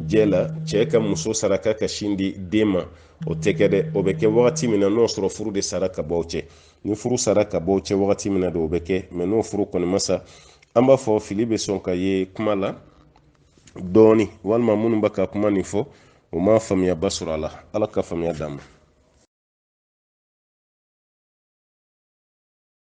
Speaker 1: jɛ la cɛ ka muso sara k'a ka sin di den ma o tɛ kɛ dɛ o bɛ kɛ wagati min na n'o sɔrɔ furu de sara ka bɔ cɛ ni furu sara ka bɔ cɛ wagati min na de o bɛ kɛ mɛ n'o furu kɔni ma sa an b'a fɔ fili bɛ sɔn ka ye kuma la dɔɔni walima minnu bɛ ka kuma nin fɔ u ma faamuyaba sɔrɔ a la ala ka faamuya d'a ma